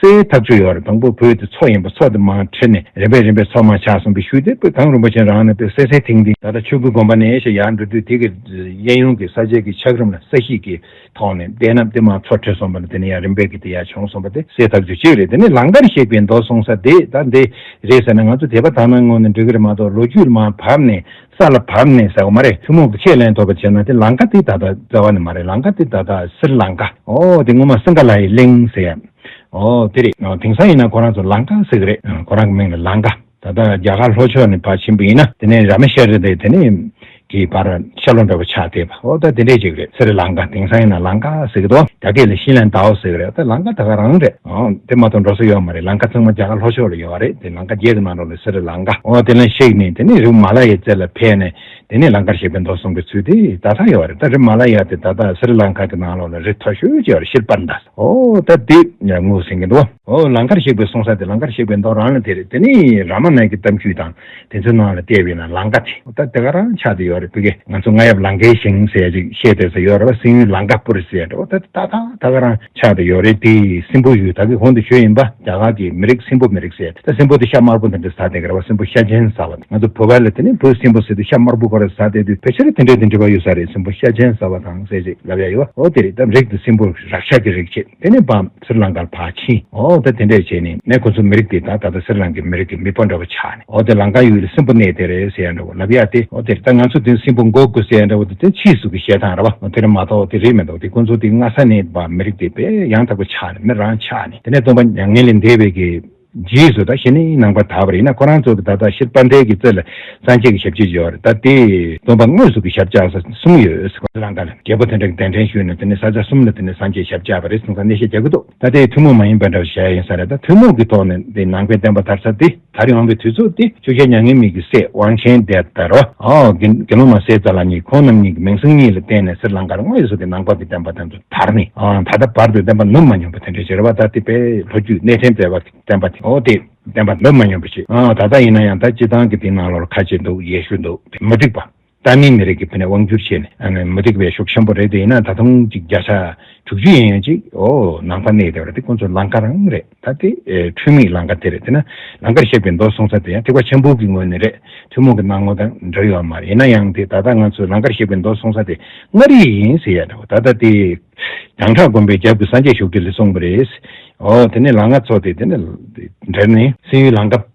སའི་ཐབས་བཅུ་ཡོད་རེད་དང་པོ་བོད་དེ་ཚོགས་ཡིན་པ་ཚོགས་དེ་མ་ཁྲིད་ནས་རིམ་པས་རིམ་པས་ཚོགས་མ་ཆགས་གསུངས་པའི་ཤུལ་དེ་པོད་གང་རིན་པོ་ཆེན་རང་ནས་པོད་སེ་སེ་ཐིང་ཐིང། ད་ལྟ་ཆོས་སྐུའི་དགོན་པ་ནས་ཞེས་ཡར་འགྲོ་དུས་དེ་གའི་གཡས་གཡོན་གྱི་ས་ཆའི་གི་ཆགས་རིམ་ལ་ས་གཤིས་ཀྱི་ཐོག་ནས་བལྟས་ན་དེ་མ་ཚོགས་ཁྲིད་སོང་པ་ན་དེ་ནས་ཡར་རིམ་པས་གི་དེ་ཡར་བྱུང་སོང་པ་དེ་སའི་ཐབས་བཅུ་གཅིག་རེད་དེ་ནས་ལང་ཀར་གཤེགས་པའི་མདོ་གསུངས་ས་དེ་ད་འདི་རེད་ཟེར་ན་ང་ཚོ་དེ་པ་ད་ནང་ངོ་ནས་འགྲིག་གི་རེད་མ་གཏོགས་ལོ་རྒྱུས་མ་བབས་ནས་ས་ལ་བབས་ནས་ཟེར་བ་མ་རེད་ཐུན་མོང་གི་ཁས་ལེན་ཐོབ་པ་བྱས་ན་དེ་ལང་ཀ་དེ་ད་ལྟ་བཙལ་བ་ནི་མ་རེད་ལང་ཀ་དེ་ད་ལྟ་སིར་ལང་ཀ་ཨོ་དེ་སྔོན་མ་སིང་ག་ལ་ཡི་གླིང་ཟེར་ཡ་ཨོ་དེ་རེད་དེང་སང་ཡིན་ན་ཁོ་རང་ཚོ་ལང་ཀ་ཟེར་གི་རེད་ཁོ་རང་གི་མིང་ལ་ལང་ཀ་ད་ལྟ་རྒྱ་གར་ལྷོ་ཕྱོགས་ནས་བར་ཕྱིན་པ་ཡིན་ན་དེ་ནས་ར་མེ་ཤ་རི་དེ་ནས་གི་བར་ཤ་ལོ་འདྲ་བོ་ཆགས་བསྡད་པ་ཨོ་ད་དེ་འདྲས་བྱེད་གི་རེད་སིར་ལང་ཀ་དེང་སང་ཡིན་ན་ལང་ཀ་ཟེར་གི་འདུག་རྒྱ་སྐད་ལ་ཤིན་ལན་དའོ་ཟེར་གི་རེད་ད་ལང་ཀ་ད་ག་རང་རེད། དེ་མ་གཏོགས་འགྲོ་ས་ཡོད་མ་རེད་ལང་ཀ་ཚང་མ་རྒྱ་གར་ལྷོ་ཕྱོགས་ལ་ཡོད་བ་རེད་དེ་ལང་ཀ་རྒྱལ་གྱི་ནང་རོ་ལ་སི་རི་ལང་ཀ་འོ་དེ་ལ་གཤེགས་ནས་དེ་ནས་རི་བོ་མ་ལ་ཡའི་རྩེ་ལ་ཕེབས་ནས་དེ་ནས་ལང་ཀར་གཤེགས་པའི་མདོ་གསུང་གི་ཚུལ་དེ་ད་ལྟ་ཡོད་བ་རེད་ད་རི་མ་ལ་ཡ་དེ་ད་ལྟ་སི་རི་ལང་ཀ་གི་ནང་ལོགས་ལ་རི་མཐོ་ཤོས་བཅས་བ་རེད་ཤེར་པར་འདྲ་ཨོ་ད་དེ་ངོ་ཟིན་གྱི་འདུག་ཨོ་ལང་ཀར་གཤེགས་པའི་གསུང་ས་དེ་ལང་ཀར་གཤེགས་པའི་མདོ་རང་ལ་དེ་རེད་དེ་ནས་ར་མ་ནཱི་ཀི་གཏམ་རྒྱུད་དང། དེ་ཚོའི་ནང་ལ་ལྟས་བས་ན་ལང་ཀ་ཆེ། ད་དེ་ག་རང་ཆགས་དེ་ཡོད་རེད་བོད་སྐད་ང་ཚོ་རྔ་ཡབ་ལང་ཀའི་ཞིང་ཟས་ཅིག་བཤད་དེ་ཟེར་ཡོད་རེད་བ་སྲིན་ཡུལ་ལང་ཀ་སྤུ་རེད་ཟེར་ཡོད་རེད་ད་ད་ད་ག་རང་ཆགས་དེ་ཡོད་རེད་དེ་སྲིན་པོ་ཡུལ་ད་གི་གོང་དུ་བྱོས་ཡིན་པ་རྒྱ་གར་གི་མི་རིགས་སྲིན་པོ་མི་རིགས་ཟེར་ད་སྲིན་པོ་དེ་ཤ་དམར་པོ་འདི་འདྲ་ཟ་དེ་ག་རེད་བ་སྲིན་པོ་ཤ་ཆེན་ཟ་བ་ང་ཚོ་བོད་པ་ལ་དེ་ནི་བོད་སྲིན་པོ་ཟེར་དུས་ཤ་དམར་པོ་ག་རེ་ཟ་དེ་དུས་ཕལ་ཆེར་དེ་འདྲ་དེ་འདྲ་བ་ཡོད་ས་རེད་སྲིན་པོ་ཤ་ཆེན་ཟ་བ་དང་ཟས་ཅིག་ལབ་ཡ་ཡོད་བ་འོ་དེ་རེད་ད་རིགས་དེ་སྲིན་པོ་རག་ཤ་གི་རིགས་ཆེ། དེ་ནས་བར་སེར་ལང་ཀར་བར་ཕྱིན། འོ་དེ་དེ་འདྲས་བྱས་ནས་ནས་ཁོ་ཚོ་མི་རིགས་དེ་དག་ད་ལྟ་སེར་ལང་ཀའི་མི་རིགས་ཀྱི་མི་དཔའ་འདྲ་བོ་ཆགས་ནས་འོ་དེ་ལང་ཀ་ཡུལ་ལ་སྲིན་པོ་གནས་དེ་རེད་ཟེར་ཡ་འདྲ་བོ་ལབ་ཡ་སྟེ་འོ་དེ་ད་ང་ཚོ་དེ་སྲིན་པོ་འགོག་དགོས་ཟེར་ཡ་འདྲ་བོ་དེ་དེ་ཕྱིའི་གཟུགས་ཀྱི་ཞལ་ཐང་ར་བ་འོ་དེ་རེད་མ་གཏོགས་དེ་རེད་མི་འདུག་དེ་ཁོ་ཚོ་དེ་སྔ་ས་ནས་བར་མི་རིགས་དེ་བས་ཡང་དག་པོ་ཆགས་ནས་མི་རང་ཆགས་ནས་དེ་ནས་སྟོང་པ་མྱ་ངན་ལས་འདས་པའི་གེ་རྗེས་སུ་ད་ཤི་ནས་ནང་པར་དར་བ་ཡིན་ན་ཁོ་རང་ཚོ་གི་ད་ད་ཤིར་དཔལ་ལྡན་གྱི་རྩེ་ལ་སངས་རྒྱས་ཀྱི་ཞབས་ཕྱི་བཞེས་བར་ད་དེ་སྡོམ་པ་དངོས་སུ་གི་ཞབས་བཅག་ས་གསུམ་ཡོད། གླང་དར་རྒྱལ་པོ་དེ་འདྲ་གི་གདན་འདྲེན་ཞུས་ནས་དེ་ནས་ས་ཆ་གསུམ་ལ་དེ་ནས་སངས་རྒྱས་ཞབས་བཅག་པ་རེད་གསུངས་ས་གནས་བཤད་རྒྱག་གི་འདུག་ད་དེ་ཐུན་མོང་མ་ཡིན་པ་འདྲ་བ་ཞེ་ཡིན་ས་རེད་ད་ཐུན་མོང་གི་ཐོག་ནས་དེ་ནང་པའི་བསྟན་པ་དར་ས་དེ་དར་ཡོང་གི་དུས་ཚོད་དེ་ཆུ་ཤེལ་མྱ་ངན་མེད་ཀྱི་སྲས་དབང་ཆེན་འདས་དར་བ། དགེ་སློང་མ་སེ་ཙཱ་ལ་གཉིས་ཁོང་རྣམ་གཉིས་ཀྱི་མིང་སྲིང་གཉིས་ལ་བརྟེན་ནས་སེར་ལང་ཀར་དངོས་སུ་གི་ནང་པ་གི་བསྟན་པ་དར་འདུག་དར་ནི། ད་ལྟ་བར་དུ་བསྟན་པ་ནུབ་མ་མྱོང་པ་དེ་འདྲའི་རྗེ་ར་བ་ད་ལྟི་པའི་ལྷོ་རྒྱུད་གནས་ཕྲན་མཛད་པ་བསྟན་པ་དེ་འོ་དེ་བསྟན་པ་ནུབ་མ་མྱོང་པ་ཞིག་ད་ལྟ་ཡིན་ན་ཡང་ད་སྤྱི་བཏང་གི་དེ་ནང་ལོར་ཁ་ཆེ་འདུག་ཡེ་ཤུ་འདུག་དེ་མུ་སྟེགས་པ། ཏཱ་མིའི་མི་རིགས་ཀྱི་བུ་ནས་དབང་བསྒྱུར་བྱས་ནས་མུ་སྟེགས་པའི་ཤུགས་ཆེན་པོ་རེད་དེ་ཡིན་ན་ད་དུང་ཅིག་བརྒྱ་ཆ་དྲུག་ཅུ་ཡན་ཡོད་ཅིག་ཨོ་ནང་པ་གནས་དེ་བ་རེད་དེ་ཁོང་ཚོ་ལང་ཀ་རང་རེད། ད་ལྟའི་འཕྲུལ་མིག་ལང་ཀ་དེ་རེད། དེས་ན་ལང་ཀར་གཤེགས་པའི་མདོ་གསུང་ས་དེ་ཡང་ཐེག་པ་ཆེན་པོ་གི་ངོས་ནས་རེད། ཐུན་མོང་གི་སྣང་ངོ་དང་འདྲ་ཡོད་མ་རེད་ཡིན་ན་ཡང་དེ་ད་ལྟ་ང་ཚོས་ལང་ཀར་གཤེགས་པའི་མདོ་གསུང་ས་དེ་མངའ་རིས་ཡིན་ཟེར་ཡ་འདྲ་བོ་ད་ལྟ་དེ། རྒྱང་གྲགས་དགོན་པའི་རྒྱབ་ཀྱི་སངས་རྒྱས་བཞུགས་ཁྲི་ལས་གསུངས་པ་རེད། འོ་དེ་ནས་ལང་ཀ་ཚོ་དེ་དེ་ནས་འབྲེལ་ནས། སེམས་ཡུལ་ལང་ཀ།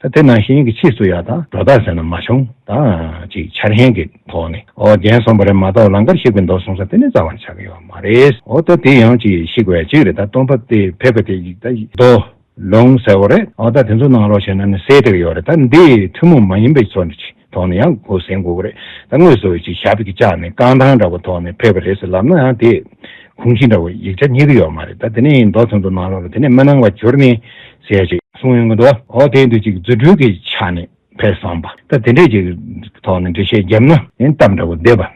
ད་དེ་ནང་བཞིན་གྱི་ཕྱིས་སུ་ཡག་དང་འགྲོ་དག་ཟེར་ན་མ་བྱུང་ད་ཅིག་འཆར་ཡན་གྱི་ཐོག་ནས་ཨོ་རྒྱན་སོང་བ་རེད་མ་གཏོགས་ལང་ཀར་གཤེགས་པའི་མདོ་གསུང་ས་དེ་ནས་རྩ་བར་ཆགས་ཀྱི་ཡོད་མ་རེད་ཨོ་ད་དེ་ཡང་ཅིག་བཤིག་བས་གཅིག་རེད་ད་སྟོང་ཕབ་སྟེ་ཕེབས་པ་དེ་ཡིག་ད་མདོ་ལུང་ཟེར་བ་རེད་ཨོ་ད་དེ་ཚོ་གནང་རོགས་བྱས་ན་ནི་གསལ་ཐིག་ཡོད་རེད་ད་འདི་ཐུན་མོང་མ་ཡིན་པའི་ཚོ་འདྲི་ཆེ་ཐོག་ནས་ཡང་སྒོ་ཟིན་དགོས་ཀྱི་རེད། ད་དངོས་སུ་ཅིག་ཞྭ་བེ་གི་ལྕགས་ནས་རྐང་ཐང་འདྲ་བོ་ཐོགས་ནས་ཕེབས་པ་རེད་ཟེར་ལབ་ན་ཡང་དེས་གུང་གཞི་འདྲ་བོ་ཡིག་ཆ་རྙེད་ཀྱི་ཡོད་མ་རེད་ད་དེ་ནས་ཡིན་མདོག་ཚོན་དུ་ནང་ལོགས་ལ་དེ་ནས་མི་སྣང་བ་གྱུར་ནས་ཟེར་ཅིག་གསུངས་ཡོང་གི་འདུག་ཨོ་དེ་འདུག་ཅིག་རྫུ་འཕྲུལ་གྱི་ཆ་ནས་ཕེབས་སོང་བ་ད་དེ་འདྲས་ཀྱི་ཐོག་ནས་འགྲེལ་བཤད་བརྒྱབ་ན་ཡིན་སྟབས་འདྲ་བོ་བསྡད་པ།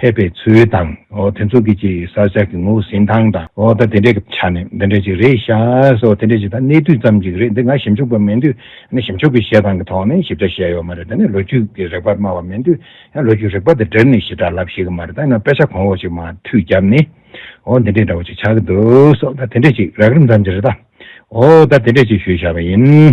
ཕེབས་པའི་ཚུལ་དང། དེ་ཚོ་གི་ཅིག་ས་ཞག་གི་ངོ་བོ་ཟིན་ཐང་དང། ད་དེ་འདྲའི་གི་ཆ་ནས་འདི་འདྲའི་ཅིག་རེད་ཤག་སོགས་དེ་འདྲའི་ཅིག་ད་གནས་དུས་ཙམ་ཅིག་རེད་འདི་ང་ཞིབ་འཇུག་པ་མིན་དུས་ནི་ཞིབ་འཇུག་གི་བཤད་སྟངས་གི་ཐོག་ནས་ཞིབ་ཆ་བཤད་ཡོད་མ་རེད་ད་ནི་ལོ་རྒྱུས་ཀྱི་རེག་པར་སྨྲ་བ་མིན་དུས་ཡང་ལོ་རྒྱུས་རེག་པ་དེ་འདྲིར་ནི་ཞིབ་ཕྲར་ལབ་ཤེས་གི་མ་རེད་ད་ཡིན་ན་དཔེ་ཆ་གོང་འོག་ཅིག་མ་མཐུད་རྒྱབ་ནི་འོ་འདི་འདྲའི་འདྲ་བོ་ཅིག་ཆགས་གི་འདུག་སོགས་ད་དེ་འདྲའི་ཅིག་རགས་རིམ་ཙམ་ཅིག་རེད་ད། འོ་ད་དེ་འདྲའི་ཅིག་ཞུས་བཞག་པ་ཡིན།